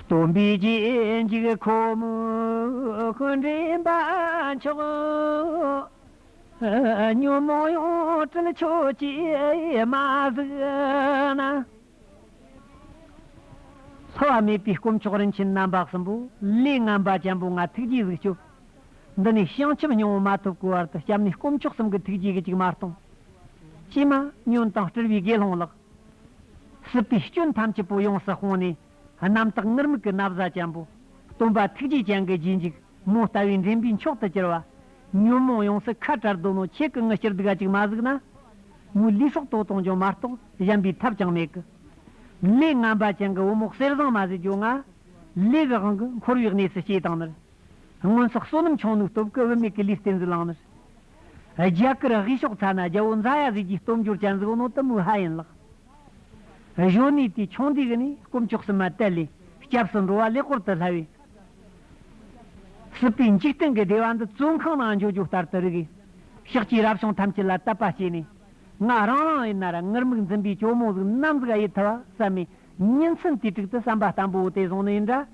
སྟོན་པའི་རྗེས་འཇུག་ཁོ་མོའི་འདྲེན་པ་མཆོག། ཉོན་མོངས་ཡོངས་བཀྲུལ་ཆོས་ཀྱི་མ་གཟུགས་ན། ལྷ་བ་མེད་པའི་དཀོན་མཆོག་རིན་ཆེན་རྣམ་པ་གསུམ་པོ་ལས་རྔམ་པ་ཅན་པོ་ལྔ་ཐུགས་རྗེའི་གཟུགས་སྐྱོབ། འདི་ནས་བྱང་ཆུབ་སྙིང་བོ་མ་ཐོབ་གོས་བར་དུ་སྐྱབས་གནས་དཀོན་མཆོག་གསུམ་གྱི་ཐུགས་རྗེའི་གཅིག་མ་སྟོང། ཕྱི་མ། ཉོན་དང་སྤྲུལ་པའི་དགེ་སློང་ལགས། སྲིད་པའི་སྐྱོན་ཐམས་ཅད་པོ་ཡོངས་སུ་སྤོང་ནས། རྣམ་དག་ངུར་སྨྲིག་གི་ན་བཟའ་ཅན་པོ། སྟོན་པ་ཐུགས་རྗེ་ཅན་གྱི་རྗེས་འཇུག་མོ་ལྟ་བུའི་འདྲེན་པའི་མཆོག་ཏུ་གྱུར་པ། ཉོན་མོངས་ཡོངས་སུ་ཁ་བྲལ་གདོན་ནོ་ཆེ་གི་ངུ་སྐྱུར་སྡུག་ཨ་ཅིག་མ་གཟུགས་ན། མོའི་ལུས་སྲོག་ལྟོ་སྟོང་ཅང་མ་རྟོགས་གཞན་པའི་ཐབས་ཀྱང་མེད་ཀི། ལས་རྔམ་པ་ཅན་གྱི་བུ་མོ་གསེར་བཟང་མ་ཟིལ་གྱོ་ང། ལས་ཀྱི་དབང་གིས་འཁོར་བའི་གནས་སུ་སྐྱེས་དང་མིར། སྔོན་སོག་བསོད་ནམས་ཆུང་ནུའི་སྟོབས་བསྐུལ་བུད་མེད་ཀྱི་ལུས་རྟེན་གྱི་ལག་ནས། རྒྱ་གར་དབུས་ཕྱོགས་ཚ་ན་རྒྱལ་པོ་མཛའ་ཡ་ཟིག་གི་སྟོབས་འབྱོར་ཅན་གཟུགས་ནོར་དུ་མོའི་ཧ་ཡིན་ལགས། གཞོན་ནུའི་དུས་ཆུང་དུས་ནས་དཀོན་མཆོག་གསུམ་མ་དད་ལས་སྐྱབས་སུ་འགྲོ་བ་ལས་བསྐོར་དུ་སླ་བས། སྲིད་པའི་འཇིག་རྟེན་གྱི་བདེ་བ་འདི་བཙོན་ཁང་ནང་འཇོ་ཇོ་ལྟར་དུ་རིག། ཤེག་ཅིག་རབ་བྱུང་ཐམས་ཅད་ལ་བསྟབ་པ་བྱས་ནས། ང་རང་རང་ཡི་ན་ར་ངུར་སྨུག་འཛིན་པའི་གྱོ་མོ་གཟུགས་ནམ་གཟུགས་ཨ་ཡི་ཐུ་བ་བསམ་མེད་གཉིས་མཚུངས་དུས་དྲུག་ཏུ་བསམ་པ་བརྟན་པོ་དེ་བཟུང་ནས་འདྲ།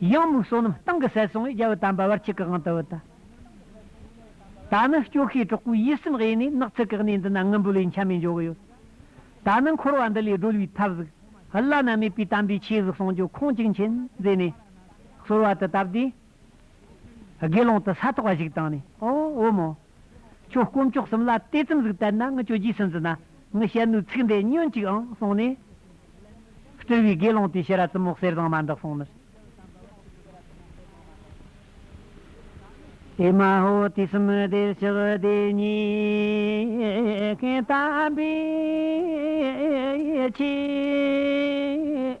གཡང་མུག་བསོད་ནམས་སྟེང་གི་སད་སོང་བས་རྒྱལ་བུ་དམ་པ་བར་ཆད་གང་དུ་འོད་ད་ནི་སྐྱོ་ཤས་གྲོགས་པོའི་ཡིད་སེམས་གཡས་ནས་ནག་ཚིག་གི་གནས་འདི་ན་དངུལ་འབུལ་བའི་མཆན་མེད་འཇོག་གི་ཡོད་ད་ནི་འཁོར་བ་འདི་ལས་སྒྲོལ་བའི་ཐབས་གཟུགས་བླ་ན་མེད་པའི་དམ་པའི་ཆོས་གཟུགས་གསུང་ཆོས་ཁོང་གཅིག་མཁྱེན་མཛད་ནས་ཚོར་བ་དེ་སྟབས་བདེ་དགེ་སློང་དུ་ས་ཐོག་བ་ཞིག་བཏང་ནས་ཨོ་འོ་མོ། ཁྱོད་དཀོན་མཆོག་གསུམ་ལ་དེ་ཙམ་ཟིག་བལྟ་ན་ངི་ཁྱོད་རྗེས་སུ་འཛིན་ན་ངི་བཤད་ནུས་ཚིག་འདི་ཉོན་ཅིག་ཨང་གསུངས་ནས། སྤྲུལ་བའི་དགེ་སློང་དེས་ཤི་ར་ཙི་མོག་གསེར་བཟང་མ་འདི་གསུངས་ནས། ཨེ་མ་ཧོ་དུས་གསུམ་བདེར་ཆགས་བདེ་སྙེག་མཁན་དམ་པའི་ཆོས།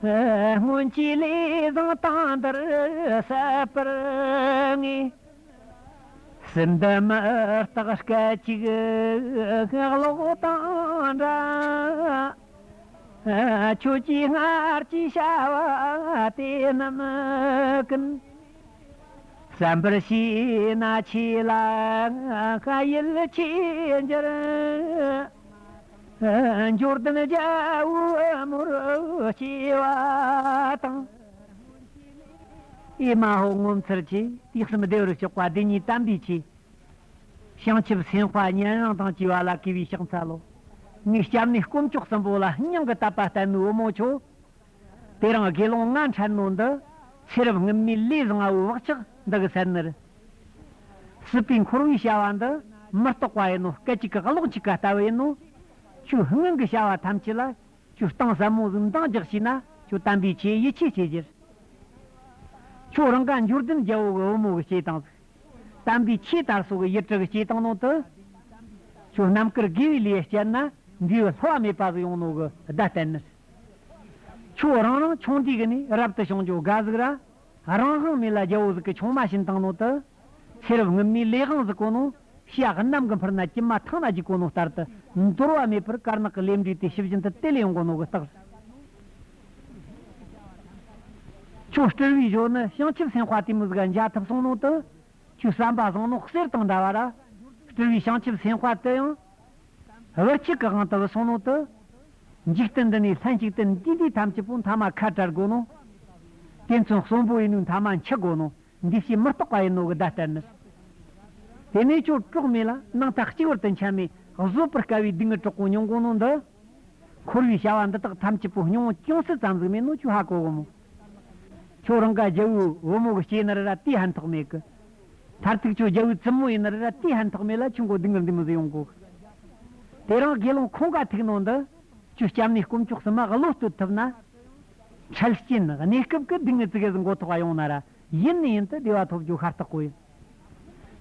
སྔོན་གྱི་ལས་བཟང་དང་འདིར་གསལ་བར་ངེས། སྲིད་འདི་མི་རྟག་སྐད་ཅིག་གློག་དང་འདྲ། ཁྱོད་ཀྱིས་སྔར་གྱི་བྱ་བ་དེ་རྣམས་ཀུན། བསམ་པར་བྱས་ན་ཁྱེད་ལ་ཡིད་ཆེས་འགྱུར། འབྱོར་ལྡན་རྒྱལ་བུ་མུར་སྐྱེ་བ་དང། ཨེ་མ་ཧོ་ངོ་མཚར་ཆེ། དུས་གསུམ་བདེ་བར་གཤེགས་པ་བདེན་གཉིས་དམ་པའི་ཆོས། བྱང་ཆུབ་སེམས་དཔའ་ཉན་རང་དང་བཅས་པ་ལ་གུས་པའི་ཕྱག་འཚལ་ལོ། ངའི་སྐྱབས་གནས་དཀོན་མཆོག་གསུམ་པོ་ལ་སྙིང་གི་དད་པ་ལྟ་མོའི་བུ་མོ་ཁྱོད། དེ་རིང་དགེ་སློང་ལྔ་འཕྲད་ནོ་འདི། ཚེ་རབས་སྔུན་མའི་ལས་བཟང་བོའི་བག་ཆགས་འདི་གི་སེར་སྣར། སྲིད་པའི་འཁོར་བའི་བྱ་བ་འདི་མི་རྟོགས་པ་ཡིན་ནོ་སྐད་ཅིག་གིས་གློག་གཅིག་ག་ལྟ་བུ་ཡིན་ནོ། ཁྱོད་སྔོན་གྱི་བྱ་བ་ཐམས་ཅད་ལ་ཁྱོད་གཏིང་ཟབ་མོ་གཟུགས་མདངས་རྒྱག་བྱས་ན་ཁྱོད་དམ་པའི་ཆོས་ཡིད་ཆེས་བྱེད་ཕྱིར། ཁྱོད་རང་ག་འབྱོར་ལྡན་རྒྱལ་པོ་གི་བུ་མོ་གི་སྐྱེས་སྟངས་གཟུགས། དམ་པའི་ཆོས་དར་སོ་གི་ཡིད་དྲི་གི་སྐྱེས་སྟངས་ནང་དུ། ཁྱོད་རྣམས་ཀིར་དགེ་བའི་ལས་སྤྱད་ན་འདུས་བའི་ལྷུ་བ་མེད་པ་གཟུགས་ཡོང་ནོ་གི་བརྡ་བསྟན་ནོ། ཆོས་རང་རང་ཆུང་དུས་ཀྱི་ནས་རབ་ཏུ་བྱང་ཆུབ་དགའ་གཟུགས་ར། རང་བཟང་མེད་ལ་རྒྱལ་པོ་གཟུགས་ཀྱི་ཆུང་མ་བཞིན་དང་ནོ་ཏི། ཚེ་རབས་སྔོན་མའི་ལས་དབང་གཟུགས་གོ་ནོ། ཞག་གནམ་གྱི་འཕུར་ན་ཀྱི་མ་ཐང་ན་རྒྱུ་གོ་ནོ་ལྟར་དུ། འདོར་བ་མེད་པར་དཀར་ནག་གི་ལས་འབྲས་དེ་ཤི་བཞིན་དུ་དེ་ལས་ཡོང་གོ་ནོ་གི་རྟགས། ཆོས་སྤྲུལ་བའི་གཞོན་ནུ་བྱང་ཆུབ་སེམས་དཔའ་དེ་མོ་གཟུགས་ལ་འཇའ་ཐུབ་གསུངས་ནོ་ཏི། ཆོས་བསམ་པ་བཟང་ནོ་གསེར་དང་འདྲ་བ་ར། སྤྲུལ་བའི་བྱང་ཆུབ་སེམས་དཔའ་དེ་ཡང། ཧཱུྃ། ལོ་གཅིག་གི་དབང་དུ་བསྲུང་ལུང་དུ། འཇིག་རྟེན་འདི་ནས་ལྷན་ཅིག་ཏུ་འདུས་འདི་ཐམས་ཅད་པོ་མཐའ་མ་ཁ་བྲལ་དགོས་ནོ། དེ་མཚུངས་གསུམ་པོ་ཡིན་ནོ་མཐའ་མ་འཆི་དགོས་ནོ་འདུས་བྱས་མི་རྟོག་པ་ཡིན་ནོ་གི་བརྡ་གཏེར་ནི། དེ་ནས་ཆོས་གྲོགས་མེད་ལ་སྣང་མཐའ་གཅིག་བར་དུ་འཆད་མེད་བཟོད་པར་དཀའ་བའི་སྡིག་བསྔལ་དྲག་པོ་མྱོང་དགོས་ནོ་འདི། འཁོར་བའི་བྱ་བ་འདི་དག་ཐམས་ཅད་པོ་སྙོམས་ཅུང་ཟད་ཙམ་གཟིགས་མེད་ནོ་ཆོས་ཧ་གོ་བུ་མོ། ཁྱོད་རང་ག་རྒྱལ་བུ་བུ་མོ་གི་སྐྱེ་ནི་རི་ར་དེའི་ཧན་ཐོགས་མེད་གི། མཐར་ཐུག་ཁྱོད་རྒྱལ་བོའི་བཙུན་མོ་ཡིན་ན་རི་ར་ཏི་ཧན་ཐོགས་མེད་ལ་ཁྱོད་མགོ་སྡིག་ངར་འདི་མི་ཟིག་ཡོང་གོ། དེ་རིང་དགེ་སློང་ཁོང་ག་ཐུག་ནང་འདི། ཁྱོད་སྐྱབས་གནས་སྐོམ་ཅོག་སྲིན་མ་གློ་བསྟོད་ཐུབ་ན། འཕྲལ་སྐྱེན་གནས་སྐབས་ཀྱི་སྡིག་ངར་ཙི་གེ་ཟིག་མགོ་ཐོགས་པ་ཡོང་ན་ར་ཡིན་ནི་ཡིན་དུ་བདེ་བ་ཐོབ་རྒྱུ་ཤ་སྟག་པོ་ཡིན།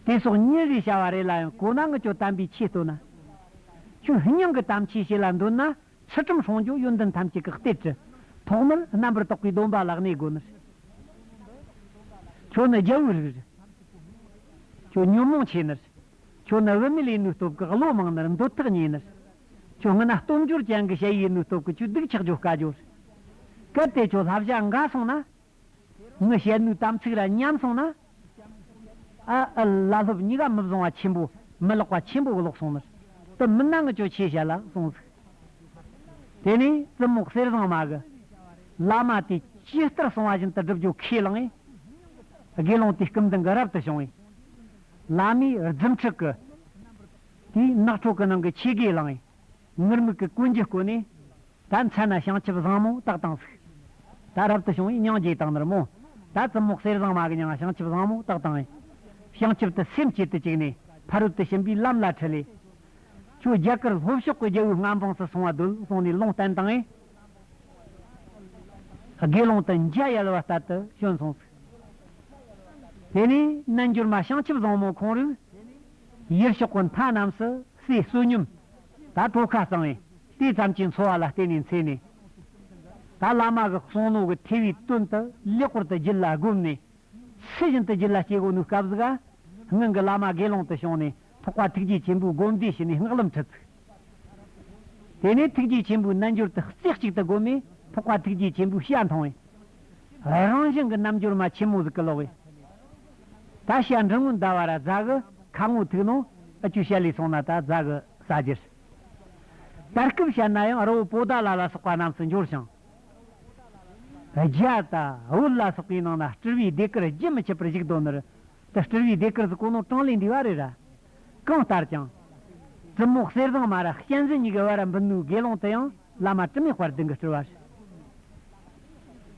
དེ་སོགས་ཉིན་རེའི་བྱ་བ་རེ་ལ་ཡང་གོ་ན་ངུ་ཅོ་དམ་པའི་ཆོས་བསྟོད་ན། ཁྱོད་སྙིང་གི་དམ་ཆོས་བྱེད་ལ་འདོད་ན། ཕྱི་ཁྲིམས་ཧྲོང་ཇོ་ཡོན་ཏན་ཐམས་ཅད་ཀྱི་གཏེར་གྱི། ཐོག་མར་རྣམ་པར་རྟོག་པའི་སྡོམ་པ་ལག་ནས་དགོས་མེད། ཁྱོད་ནི་རྒྱལ་བོའི་རིགས་རེད། ཁྱོད་ཉོན་མོངས་ཆེ་ནི། ཁྱོད་ནི་བུད་མེད་ལས་ནུས་སྟོབས་ཀྱི་བློ་མང་ནི་འདོད་ཐག་ཉེ་ནི། ཁྱོད་ངན་ན་སྟོབས་འབྱོར་ཅན་གྱི་དཔྱད་ཡིག་ནུས་སྟོབས་ཀྱི་ཆུ་སྡུག་ཆགས་སྦྱོར་དཀའ་སྦྱོར། གལ་ཏེ་ཁྱོད་ལྷ་བྱ་འགའ་སོང་ན། ངའི་ཞལ་ནུའི་དམ་ཚིག་ར་མཉམ་སོང་ན། ཨ་ཨི་བླ་སློབ་གཉིས་ཀ་མི་བཟང་བ་ཆེན་པོ་མི་ལོག་པ་ཆེན་པོ་གློག་སོང་མིར་དུ་མི་སྣང་གི་ཅོ་ཆེ་བྱ་ལ་སོང་ཚིག། དེ་ནས་ཙི་མོག་གསེར་བཟང་མ་གི་བླ་མ་དེ་ཇི་ལྟར་སོང་བ་བཞིན་དུ་སྒྲུབ་རྒྱུ་ཁས་བླངས་ཨེ། དགེ་སློང་དེ་སྐུ་མདུན་གྱི་རབ་ཏུ་བྱུང་བས། བླ་མའི་རྫུན་ཕྲུག་གི། དེས་ནགས་ཁྲོ་གི་ནང་གི་ཆོས་དགེ་བླངས་ཨེ། ངུར་སྨྲིག་གི་ཀུན་གྱིས་བཀོད་ནས། ད་མཚན་ན་བྱང་ཆུབ་བཟང་མོ་དག་དང་གཟུགས། ད་རབ་ཏུ་བྱུང་བའི་སྙིང་རྗེ་དང་ནི་རྨོངས། ད་རྩི་མོག་གསེར་བཟང་མ་གི་མྱང་བྱང་ཆུབ་བཟང་མོ་དག་དང། བྱང་ཆུབ་ཏུ་སེམས་བསྐྱེད་དུ་བཅུག་ནས་ཕ་རོལ་ཏུ་ཕྱིན་པའི་ལམ་ལ་འཁྲིད། ལས་ཆོས་རྒྱ་གར་ལྷོ་ཕྱོགས་ཀྱི་རྒྱལ་པོའི་མངའ་འབངས་སུ་སོང་བ་རྡོལ་སོང་ནས་ལུང་བསྟན་དང། དགེ་སློང་དུ་མཇལ་ཡལ་བ་ལྟར་དུ་བྱོན་སོང་ཟིག། དེ་ནས་རྣལ་འབྱོར་མ་བྱང་ཆུབ་བཟང་མོ་ཁོང་རུས། ཡུལ་ཕྱོགས་ཀུན་མཐའ་རྣམས་སུ་སའི་བསོད་སྙོམས། ད་གྲོ་ཁ་གཙང་བས་དེ་ཙམ་གྱིས་འཚོ་བ་ལ་བརྟེན་ནས་འཚེ་ནས། ད་བླ་མ་གི་གསུང་ནོར་གྱི་ཐེ་བའི་དོན་དུ་ལེགས་པོར་དུ་རྒྱུད་ལ་བསྒོམས་ནས། ཕྱི་བཞིན་དུ་རྒྱུད་ལ་སྐྱེ་སྒོ་ནུས་སྐབས་སུ། སྔོན་གྱི་བླ་མ་དགེ་སློང་དུ་བྱུང་ནས་ཐོག་པ་ཐུགས་རྗེ་ཆེན་པོའི་བསྒོམ་བཟླས་བྱས་ནས་སྔགས་ལམ་ཁྲིད་བཙུགས། དེ་ནས་ཐུགས་རྗེ་ཆེན་པོའི་རྣལ་འབྱོར་དུ་རྩེ་གཅིག་ཏུ་བསྒོམ་མེ་ཕོག་པ་ཐུགས་རྗེ་ཆེན་པོའི་ཞལ་མཐོང་བས། རང་བཞིན་གྱི་རྣམ་འབྱོར་མ་ཆེན་མོ་གཟུགས་ཀྱི་ལོགས་བས། ད་ཞལ་འབྲིང་ངུ་འདའ་བ་ར་བཛྲ་གི་ཁ་ངོ་ཐུགས་ནང་ཨི་ཆུ་ཤ་ལས་སོང་ན་ད་བཛྲ་གི་ས་བརྒྱུད། ད་སྐུབ་ཤ་ན་ཡང་རི་བོ་པོ་ཏཱ་ལ་ལ་སོགས་པ་རྣམས་སུ་འབྱོར་ཞིང། རྒྱལ་དང་དབུལ་ལ་སོགས་པའི་ནང་ན་སྤྲུལ་བའི་སྡེ་དཀར་རྒྱུན་མི་ཆད་པར་བཞུགས་དོ་ནུར་དུ་སྤྲུལ་བའི་སྡེ་དཀར་གཟུགས་ཀུན་ནོར་གྲངས་ལས་འདས་པ་རེ་ར། གང་ལྟར་ཀྱང། གྲི་མོག་གསེར་བཟང་མ་ར་གཅན་གཟན་གཉིས་ཀྱི་བར་འབུད་ནུས་དགེ་སློང་དུ་ཡང་བླ་མ་དྲི་མེད་བར་བདུད་འགི་སྤྲུལ་བ་ཞིག།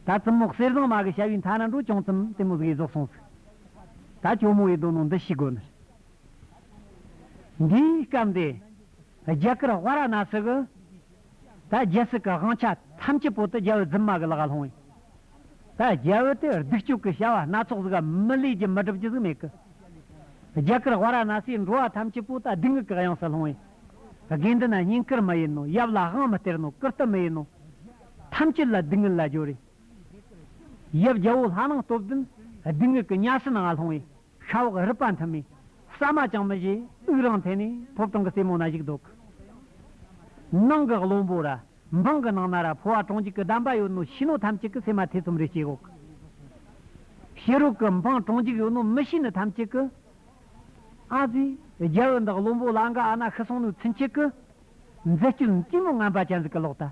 ད་གྲི་མོག་གསེར་བཟང་མ་གི་བྱ་བའི་མཐའ་ན་འགྲོ་བྱུང་ཙམ་དེ་མོ་གཟུགས་ཡིད་རྫོགས་སོང་ཟིག། ད་གྱོ་མོ་ཡི་དོ་ནོ་འདི་ཤི་དགོས་ནི་རེད། འདིའི་སྐབས་འདི། རྒྱ་གར་བྷ་ར་ན་སི་གི་ད་རྒྱལ་སྲིད་ཀྱི་དབང་ཆ་ཐམས་ཅད་བོད་དུ་རྒྱལ་བོའི་རྫུན་མ་གི་ལག་ལ་ལྷུང་ཡོད། ད་རྒྱལ་བོ་དེས་སྡིག་སྤྱོད་ཀྱི་བྱ་བ་སྣ་ཚོགས་གཟིགས་ཀ་མི་ལུས་ཀྱི་མི་སྒྲུབ་ཀྱི་གཟིགས་མེད་ཀི། རྒྱ་གར་བྷ་ར་ན་སིའི་འགྲོ་བ་ཐམས་ཅད་བོད་ད་སྡིག་ངུས་ཀྱི་གཡང་སར་ལྷུང་ཡོད། དགེ་འདུན་ན་སྙིང་ཀིར་མི་ཡིན་ནོ་ཡབ་ལ་དབང་མི་སྟེར་ནོ་ཀིརྟི་མི་ཡིན་ནོ། ཐམས་ཅད་ལ་སྡིག་ངུས་ལ་སྦྱོར་ཡོད། ཡབ་རྒྱལ་བོ་ལྷ་ནང་སྟོབས་ལྡན་སྡིག་ངུས་ཀྱི་གཉའ་ཤིང་ནང་ང་ལྷུང་ཡོད། ཤ་འོག་རིད་པ་མཐུན་མི། ཟ་མ་ཅང་མི་བཞེས་དབུགས་རང་འཐེན་ནས་ཕོ་བྲང་གི་རྩེ་མོ་ན་བཞུགས་འདུག། ནང་གི་བློན་པོ་ར། འབངས་ཀྱི་ནང་ན་ར་ཕོ་བ་གྲོང་འཇིག་གི་གདམས་པ་ཡོད་ནོ་ཤི་ནོ་ཐམས་ཅད་ཀྱི་སེ་མ་ཐེ་ཚོམ་རེ་བྱེད་གོག། ཤི་རུག་གི་འབངས་གྲོང་འཇིག་ཡོད་ནོ་མི་ཤི་ནི་ཐམས་ཅད་ཀྱི། ཨ་ཙི། རྒྱལ་བོ་འདི་བློན་པོ་ལ་འགའ་ཨ་ན་ཤི་སོང་ནོ་ཚུན་ཆད་ཀྱི། མཛེ་སྐྱོན་དཀྱུས་མོ་རྔམ་པ་ཅན་ཟིག་གི་ལོག་ལྟ།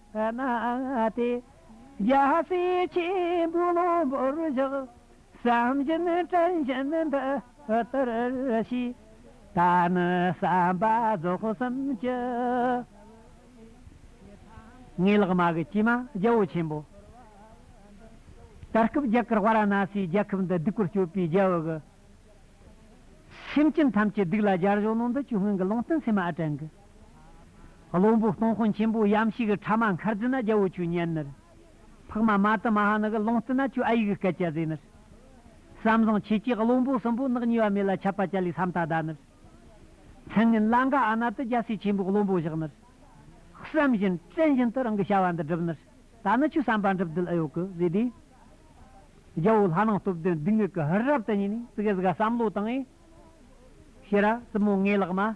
གནའ་དེ་རྒྱ་སེ་ཆེན་པོའི་གློ་བུར་བཞག། བསམ་བཞིན་དྲན་བཞིན་འདི་ལྟར་ཞུས། ད་ནི་བསམ་པ་རྫོགས་སམ་ཅི། ངའི་ལག་དམར་གྱི་སྐྱེས་མ་རྒྱལ་པོ་ཆེན་པོ། ད་སྐབས་རྒྱ་གར་བྷ་ར་ན་སིའི་རྒྱལ་ཁབ་འདི་སྡིག་པར་སྤྱོད་པའི་རྒྱལ་བོ་གི། སེམས་ཅན་ཐམས་ཅད་སྡིག་ལ་སྦྱར་བཞག་ནང་འདི་ཆུ་སྔོན་གྱི་ལུང་བསྟན་ཚད་མ་ཨ་དྲན་གྱི། བློན་པོ་སྟོང་དཔོན་ཆེན་པོ་གཡམ་ཤི་གི་ཕྲ་མ་མཁར་རྫི་ན་རྒྱལ་བོ་ཆུ་གཉན་ནར། འཕགས་མ་མ་ཏི་མ་ཧ་ནི་གི་ལོང་སྟི་ན་ཆུ་ཨ་ཡིག་གི་སྐད་ཅལ་ཟེ་ནར། བསམ་བཟང་ཆེ་གྱིས་བློན་པོ་གསུམ་པོ་ནག་ཉེ་བ་མེ་ལ་ཆབ་པ་ཅལ་ལི་སམ་ཐ་ད་ནར། མཚན་ངན་ལ་འགའ་ཨ་ན་ཏི་རྒྱལ་སྲས་ཆེན་པོའི་བློན་པོ་བཞག་ནར། བསམ་བཞིན་བཙན་བཞིན་དུ་རང་གི་བྱ་བ་འདི་བསྒྲུབས་ནར། ད་ནི་ཆུ་བསམ་པ་འགྲུབ་བདུད་ཨ་ཡོ་གི་ཟེ་དེ། རྒྱལ་བོ་ལྷ་ནང་སྟོབས་ལྡན་སྡུག་བསྔལ་གི་ཧུར་རབ་ཏུ་ཉིད་ནས་ཙི་གེ་ཟི་ག་བསམ་བློ་བཏང་ངས། ཤི་ར་ཙི་མོ་ངའི་ལག་མ།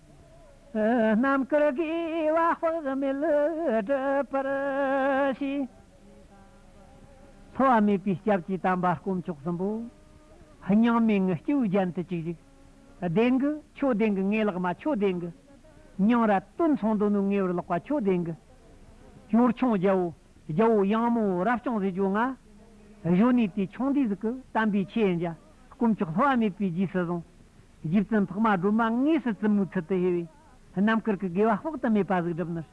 རྣམ་དཀར་དགེ་བ་དཔག་མེད་བསྒྲུབ་པར་བྱས། འཚོ་བ་མེད་པའི་སྐྱབས་ཀྱིས་དམ་པ་དཀོན་མཆོག་གསུམ་པོ། སྙིང་མེད་ངུ་སྐྱུག་རྒྱན་དུ་གཅིག་བཞུགས། ལྡན་གྱི་ཆོས་ལྡན་གྱི་ངེས་ལག་མ་ཆོས་ལྡན་གྱི། སྙིང་ར་སྟོད་འཚང་དོ་ནུབ་ངེས་པར་ལག་པ་ཆོས་ལྡན་གྱི། གཡོར་ཆང་རྒྱལ་བོ་རྒྱལ་བོ་གཡང་མོ་རབ་བརྐྱང་བཟི་བྱོལ་ང། གཞོན་ནུའི་དུས་ཆུང་དུས་གཟུགས་ཀྱི་དམ་པའི་ཆོས་འཇའ། དཀོན་མཆོག་ལྷོ་བ་མེད་པའི་རྗེས་སུ་བཟུང། རྗེ་བཙུན་འཕགས་མ་སྒྲོལ་མ་དངོས་སུ་བཙུན་མོའི་ཚུལ་དུ་ཤེས་པས་རྣམ་དཀར་གྱི་དགེ་བ་དཔག་ཏུ་མེད་པ་གཟུགས་སྒྲུབ་ནོར།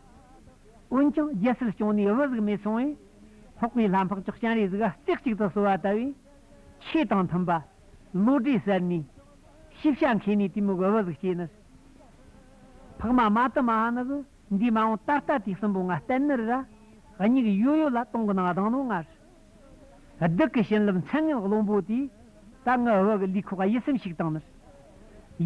འོན་ཀྱང་རྒྱལ་སྲིད་སྐྱོང་ནས་བོད་གཟུགས་མེད་སོང་བས། ལྷག་པའི་ལྷ་འཕགས་མཆོག་སྤྱན་རས་གཟིགས་རྩེ་གཅིག་ཏུ་གསོལ་བ་བཏབ་པས། ཆོས་དང་མཐུན་པ། བློ་གྲོས་གསལ་ནས། ཤེས་བྱ་མཁས་ནས་དེ་མོ་གི་བོད་གཟུགས་སྐྱེས་ནོར། འཕགས་མ་མ་ཏི་མ་ཧ་ནི་གི་འདིས་མ་འོངས་ད་ལྟ་དུས་གསུམ་པོ་ང་བསྟན་ནི་ར། སྙིགས་ཡོད་ཡོད་ལ་སྟོང་གི་ནང་གདངས་ནོ་ངར། བདག་གི་བྱིན་རླབས་མཚན་སྔགས་བློན་པོ་དེས། ད་ང་བ་གི་ལུས་ཁོག་གཡས་སེམས་ཞིག་དང་ནི།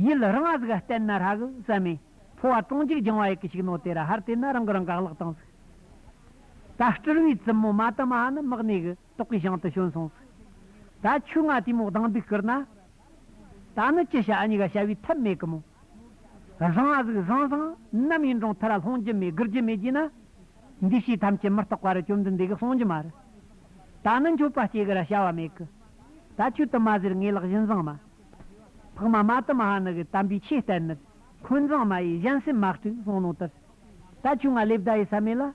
ཡུལ་རང་གཟུགས་བསྟན་ན་ཧྲ་གི་བསམ་མེད་འཕོ་བ་དྲོངས་འཇུག་སྦྱང་བ་ཡི་གེ་ཞིག་ནོ་དེ་ར་ཧར་དེ་ན་རང་གི་རང་ག་བརླག་དང་གཟུགས། ད་སྤྲུལ་བའི་བཙུན་མོ་མ་དམ་མ་ནི་དམག་གནས་གི་ཏོག་གི་ཞིང་དུ་བྱོན་སོང་གཟུགས། ད་ཆུ་ང་དུས་མོ་སྡང་སྡུག་བསྐུར་ན། ད་ནི་ཅི་བྱ་གཉིས་ཀ་བྱ་བའི་ཐབས་མེད་གི་མོ། བཟང་གཟུགས་བཟང་བཟང་རྣམ་གཡེང་གྲོང་མཐའ་ར་ལྷོང་རྒྱུ་མེད་དགུར་རྒྱུ་མེད་ཀྱིས་ན། འདུས་བྱས་ཐམས་ཅད་མི་རྟོག་པ་ར་བཅོམ་ལྡན་འདས་ཀྱི་གསུང་རྒྱུ་མ་རེད། ད་ནི་མཆོད་པ་སྐྱེ་གི་ར་བྱ་བ་མེད་གི། ད་ཁྱོད་དུ་མ་ཟེར་ངེས་ལག་བཞིན་བཟང་མ། འཕགས་མ་མ་དུ་མ་ཧ་ནི་གི་དམ་པའི་ཆོས་བསྟན་ནི། འཁོན་བཟང་མ་ཡིས་གཞན་སེམས་མ་དཀྲུགས་སློང་ནོ་དེར། ད་ཁྱོད་ང་ལས་བརྡ་ཡི་ས་མེད་ལ།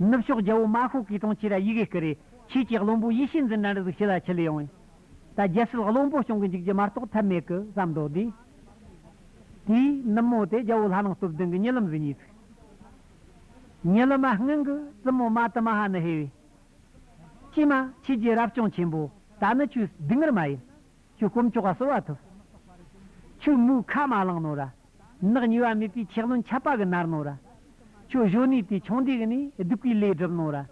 ནུབ་ཕྱོགས་རྒྱལ་པོ་མཱ་ཤོ་ཀའི་དྲུང་ཆེ་ར་ཡི་གེ་སྐུ་རེ་ཆོས་ཀྱི་བློན་པོ་ཡེ་ཤེས་འཛིན་གྲྭ་འདྲ་གཟུགས་ཞི་ལ་ཆི་ལི་ཡོང་བས། ད་རྒྱལ་སྲིད་བློན་པོ་སྐྱོང་གི་འཇུག་རྒྱུ་མ་གཏོགས་ཐབས་མེད་ཀི་བསམ་མདོག་དེ། དེའི་ནུབ་མོ་དེ་རྒྱལ་པོ་ལྷ་ནག་སྟོབས་ལྡན་གི་ཉེ་ལམ་བཟི་ཉེ་ཚིག། ཉེ་ལམ་མ་སྔན་གི་བཙུན་མོ་མ་ཏི་མ་ཧ་ནི་ཧེ་བས། ཀྱེ་མ་ཁྱེད་རྒྱལ་རབ་སྐྱོང་ཆེན་པོ་ད་ནི་ཁྱོའི་སྡིག་ངར་མ་ཡིན། ཁྱོའི་སྐོམ་ཅོག་ག་གསོལ་བ་ཐུབ། ཁྱོའི་མོའི་ཁ་མ་བླངས་ནོ་ར། ནགས་ཉུལ་བ་མེད་པའི་ཆེ་རློན་ཆད་པ་གི་ནར་ནོ་ར། ཁྱོད་གཞོན་ནུའི་དེ་ཆུང་དེ་གི་ནི་སྡུག་གི་ལས་བསྒྲུབས་ནོ་ར།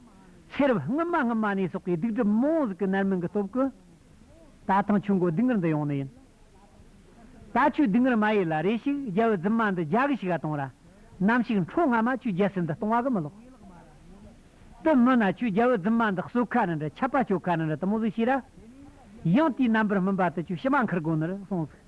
ཤེས་རབ་སྔོན་མ་སྔོན་མ་ནས་སོག་གི་སྡུག་བསྒྲུབས་མོ་གཟུགས་ཀྱི་ནར་མི་གི་སྟོབས་ཀི། ད་ཐང་ཆུ་མགོ་སྡུག་ངར་འདི་ཡོང་ནི་ཡིན། ད་ཆུ་སྡུག་ངར་མ་ཡི་ལ་རེ་ཞིག་རྒྱལ་བུ་རྫུན་མ་འདི་རྒྱ་གི་ཞིག་ག་གཏོང་ར། ནམ་ཞིག་འཕྲོ་སྔ་མ་ཆུ་རྒྱལ་སྲིད་འདི་གཏོང་བ་གི་མི་ལོག། དི་མི་ན་ཆུ་རྒྱལ་བུ་རྫུན་མ་འདི་གསོད་ཁ་ནི་འདྲ་ཆད་པ་གཅོད་ཁ་ནི་འདྲ་དི་མོ་གཟུགས་ཤེས་ར། ཡང་དེའི་རྣམ་པར་སྨིན་པ་དི་ཆུ་ཕྱི་མ་འཁུར་དགོས་ནི་རུ་སོང་ཟིག།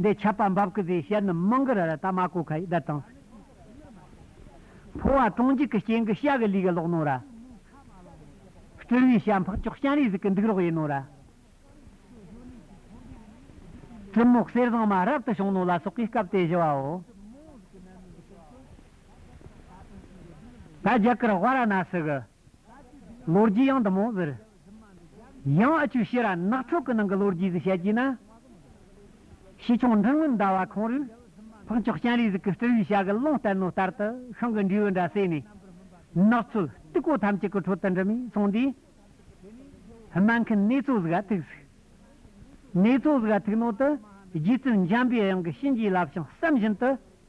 འདི་ཆད་པ་འབབ་ཀི་ཟེར་བྱས་ནི་མང་གི་ར་ར་ད་མ་གོ་ཁ་ཡིས་བསྡད་དང། འཕོ་བ་གྲོང་འཇིག་གི་རྐྱེན་གི་ཤ་གི་ལུས་གི་ལོག་ནོ་ར། སྤྲུལ་བའི་ཤ་འཕགས་ཅོག་སྤྱན་རས་གཟིགས་ཀི་འདུག་རོགས་ཡིན་ནོ་ར། གྲི་མོག་གསེར་བཟང་མ་རབ་ཏུ་བྱུང་ནོ་ལ་སོགས་ཀིས་སྐབས་དེ་བཞི་བའོ། ད་རྒྱ་གིར་བྷ་ར་ན་སི་གི། ལོ་རྒྱུས་ཡང་དུ་མོ་ཟེར། ཡང་ཨ་ཆུ་ཤེས་ར་ནག་ཕྲུག་གི་ནང་གི་ལོ་རྒྱུས་གཟིགས་བྱ་གྱིས་ན། ཞི་ཆུང་འབྲིང་མིན་ཟླ་བ་ཁོང་རུས་ཕག་མཆོག་སྤྱན་རས་གཟིགས་ཀྱི་སྤྲུལ་བའི་བྱ་གི་ཀློང་གཏེར་ནོར་ལྟར་དུ་ཤིང་གི་འབྲས་བུ་འདྲ་བསྲེས་ནས། ནགས་ཚོད་རྟུལ་ཀོ་ཐམས་ཅད་ཀྱི་ཁྲོད་དུ་འདྲི་མི་སོང་དུས། སྨན་མཁན་ནེ་ཙོ་གཟུགས་ཨ་ཐུག་གཟིགས། ནེ་ཙོ་གཟུགས་ཨ་ཐུག་ནང་དུ་རྗེ་བཙུན་འཇམ་པའི་དབྱངས་ཀྱི་གཤིན་རྗེའི་བསླབ་བྱང་བསམ་བཞིན་དུ།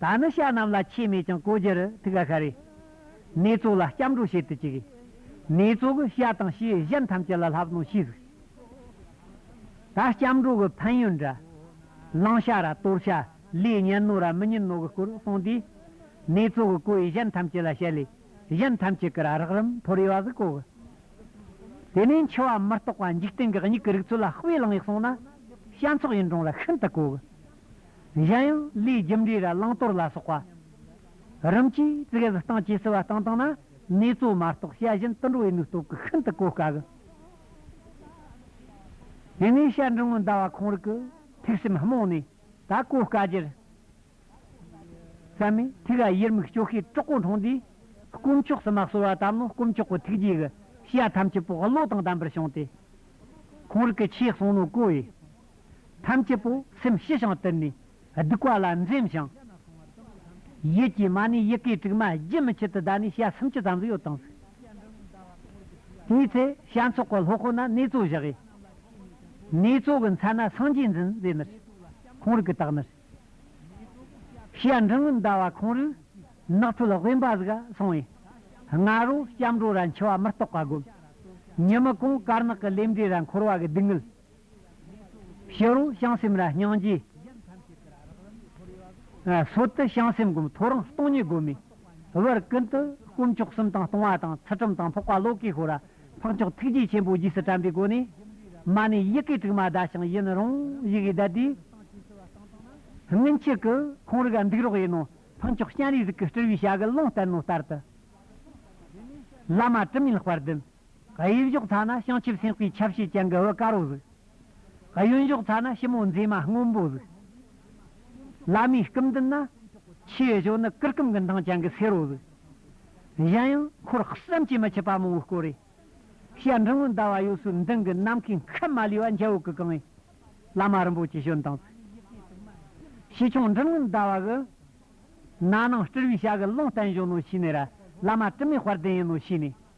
ད་ནི་ཤ་རྣམས་ལ་ཆས་མེད་ཀྱང་གོ་རྒྱུ་རུ་ཐུག་ག་ག་རེ། ནེ་ཙོ་ལ་སྐྱབས་འགྲོ་བྱེད་དུ་བཅུག། ནེ་ཙོ་གིས་ཤ་དང་ཤའི་གཞན་ཐམས་ཅད་ལ་ལྷབ་གནོང་ཤིས་གཟིགས། ད་སྐྱབས་འགྲོ་གི་ཕན་ཡོན་འདྲ། གླང་ཤ་ར་གཏོར་ཤ་ལས་གཉན་རྣོ་ར་མི་གཉན་རྣོ་གི་སྐོར་གསུངས་དུས། ནེ་ཙོ་གིས་གོས་གཞན་ཐམས་ཅད་ལ་ཤ་ལས་གཞན་ཐམས་ཅད་ཀྱི་ར་རགས་རིམ་ཕོ་རེ་བ་ཟིག་གོ་གི། དེ་ནས་འཆི་བ་མི་རྟོག་པ་འཇིག་རྟེན་གྱི་སྙིགས་ཀྱི་རིགས་ཚུལ་ལ་དཔེ་བླངས་ཡག་སོང་ན། ཤ་མཚོག་ཡིན་གྲོང་ར་ཤིན་ཏུ་གོ་གི། གཞན་ཡང་ལུས་རྒྱུ་འབྲས་ར་བླང་དོར་ལ་སོགས་པ། རིམ་གྱིས་བཙུགས་ཡབ་བཏང་སྐྱེ་བསུ་བ་བཏང་བཏང་ན་ནུས་གཙོ་མ་རྟོགས་དཔྱད་གཞན་ཏུ་འགྲོ་བའི་ནུས་སྟོབས་ཀྱི་ཤིན་ཏུ་གོ་དཀའ་གི། དེ་ནས་བཤད་འབྲིང་བོ་འདའ་བ་ཁོང་རིག་གི་ཐིག་སེམས་རྨོངས་ནས་ད་གོ་དཀའ་རྒྱུར། བསམ་མེད་ཐིག་ཨ་ཡེར་མིག་སྐྱོ་ཤས་དྲག་པོ་མཐོང་དུས། དཀོན་མཆོག་སུ་མ་གསོལ་བ་ལྟ་མོ་དཀོན་མཆོག་གི་ཐུགས་རྗེས་ཀྱི་ཤ་ཐམས་ཅད་པོ་བློ་དང་ལྡན་པར་བྱུང་སྟེ། ཁོང་རིག་གི་ཆོས་གསུང་ནོ་གོ་བས། ཐམས་ཅད་པོ་སེམས་ཞི་ཞིང་དུལ་ནས་སྡིག་པ་ལ་འཛེམ་ཞིང། ཡིད་ཀྱི་མ་ནི་ཡི་གེའི་དྲུག་མ་རྒྱུན་མི་འཆད་དུ་བཟླས་ནས་ཞལ་སུམ་ཅུ་ཙམ་གཡོ་དང་གཟིགས། དེའི་ཚེ་ཞལ་འཚོགས་པ་ལྷོ་ཁོ་ན་ནེ་ཙོ་བཞག། ནེ་ཙོ་གི་མཚན་ན་སངས་རྒྱས་འཛིན་རྫས་མེར། ཁོང་རིག་གི་དག་མེར། ཞལ་འབྲིང་ངུ་འདའ་བ་ཁོང་རིག། ནགས་ཁྲོད་དབེན་པ་གཟིགས་སོང་བས། ང་རོ་སྐྱབས་འགྲོ་ར་འཆི་བ་མི་རྟོག་པ་བསྒོམ། ཉི་མ་གོང་དཀར་ནག་གི་ལེབ་འབྲས་ར་འཁོར་བ་གི་སྡུག་བསྔལ། ཤེས་རོགས་བྱང་སེམས་ར་སྙིང་རྗེ། སོ་ཏི་བྱང་སེམས་སྒོམ་ཐོ་རངས་སྟོང་ཉིད་སྒོམ་མེད་བར་ཀུན་ཏུ་དཀོན་མཆོག་གསུམ་དང་སྟོང་བ་དང་ཚུལ་ཁྲིམས་དང་འཕགས་པ་ལོ་ཀེ་ཧོ་ར་འཕགས་མཆོག་ཐུགས་རྗེ་ཆེན་པོ་རྗེས་སུ་དྲན་པའི་སྒོ་ནས། མ་ནི་ཡི་གེ་དྲུག་མ་བཟླ་ཞིང་ཡུན་རིང་ཡི་གེ་བཟླས་ཏེ། སྔོན་ཆད་ཀྱི་ཁོང་རིག་འདུག་རོགས་ཡིན་ནོ་འཕགས་མཆོག་སྤྱན་རས་གཟིགས་ཀྱི་སྤྲུལ་བའི་བྱ་རྒོད་ལོང་བསྟན་ནོ་ལྟར་དུ། བླ་མ་དྲི་མེད་ལྷག་པར་བདུན། གཡས་གཞོགས་ཐ་ན་བྱང་ཆུབ་སེམས་དཔའི་ཆ་བྱད་ཀྱང་གི་འོད་དཀར་བོ་གཟིགས། གཡོན་གཞོགས་ཐ་ན་ཞིབ་མོ་མཛེས་མ་སྔོན་པོ་གཟིགས། བླ་མའི་སྐུ་མདུན་ན། ཕྱིའི་གཞོགས་ནི་གུར་གུམ་གྱི་མདངས་ཀྱང་གི་སེར་བོ་གཟིགས། གཞན་ཡང་འཁོར་བསམ་གྱིས་མི་ཁྱབ་པ་མང་བོའི་སྐོར་རེ། བཤད་འབྲིང་བོའི་ཟླ་བ་ཡོད་སོའི་མདུན་གྱི་ནམ་མཁའི་མཁའ་མ་ལུས་པ་འཇའ་འོད་ཀྱིས་གང་བའི། བླ་མ་རིན་པོ་ཆེ་བྱོན་དང་གཟིགས། ཕྱི་ཆུང་འབྲིང་བོའི་ཟླ་བ་གི། ན་ནིང་སྤྲུལ་བའི་ཞྭ་གི་ཀློང་བརྟན་བཞུགས་ནོ་ཞེས་ནས། བླ་མ་དྲི་མེད་དཔལ་ལྡན་ཡིན་ནོ་ཞེས་ནས།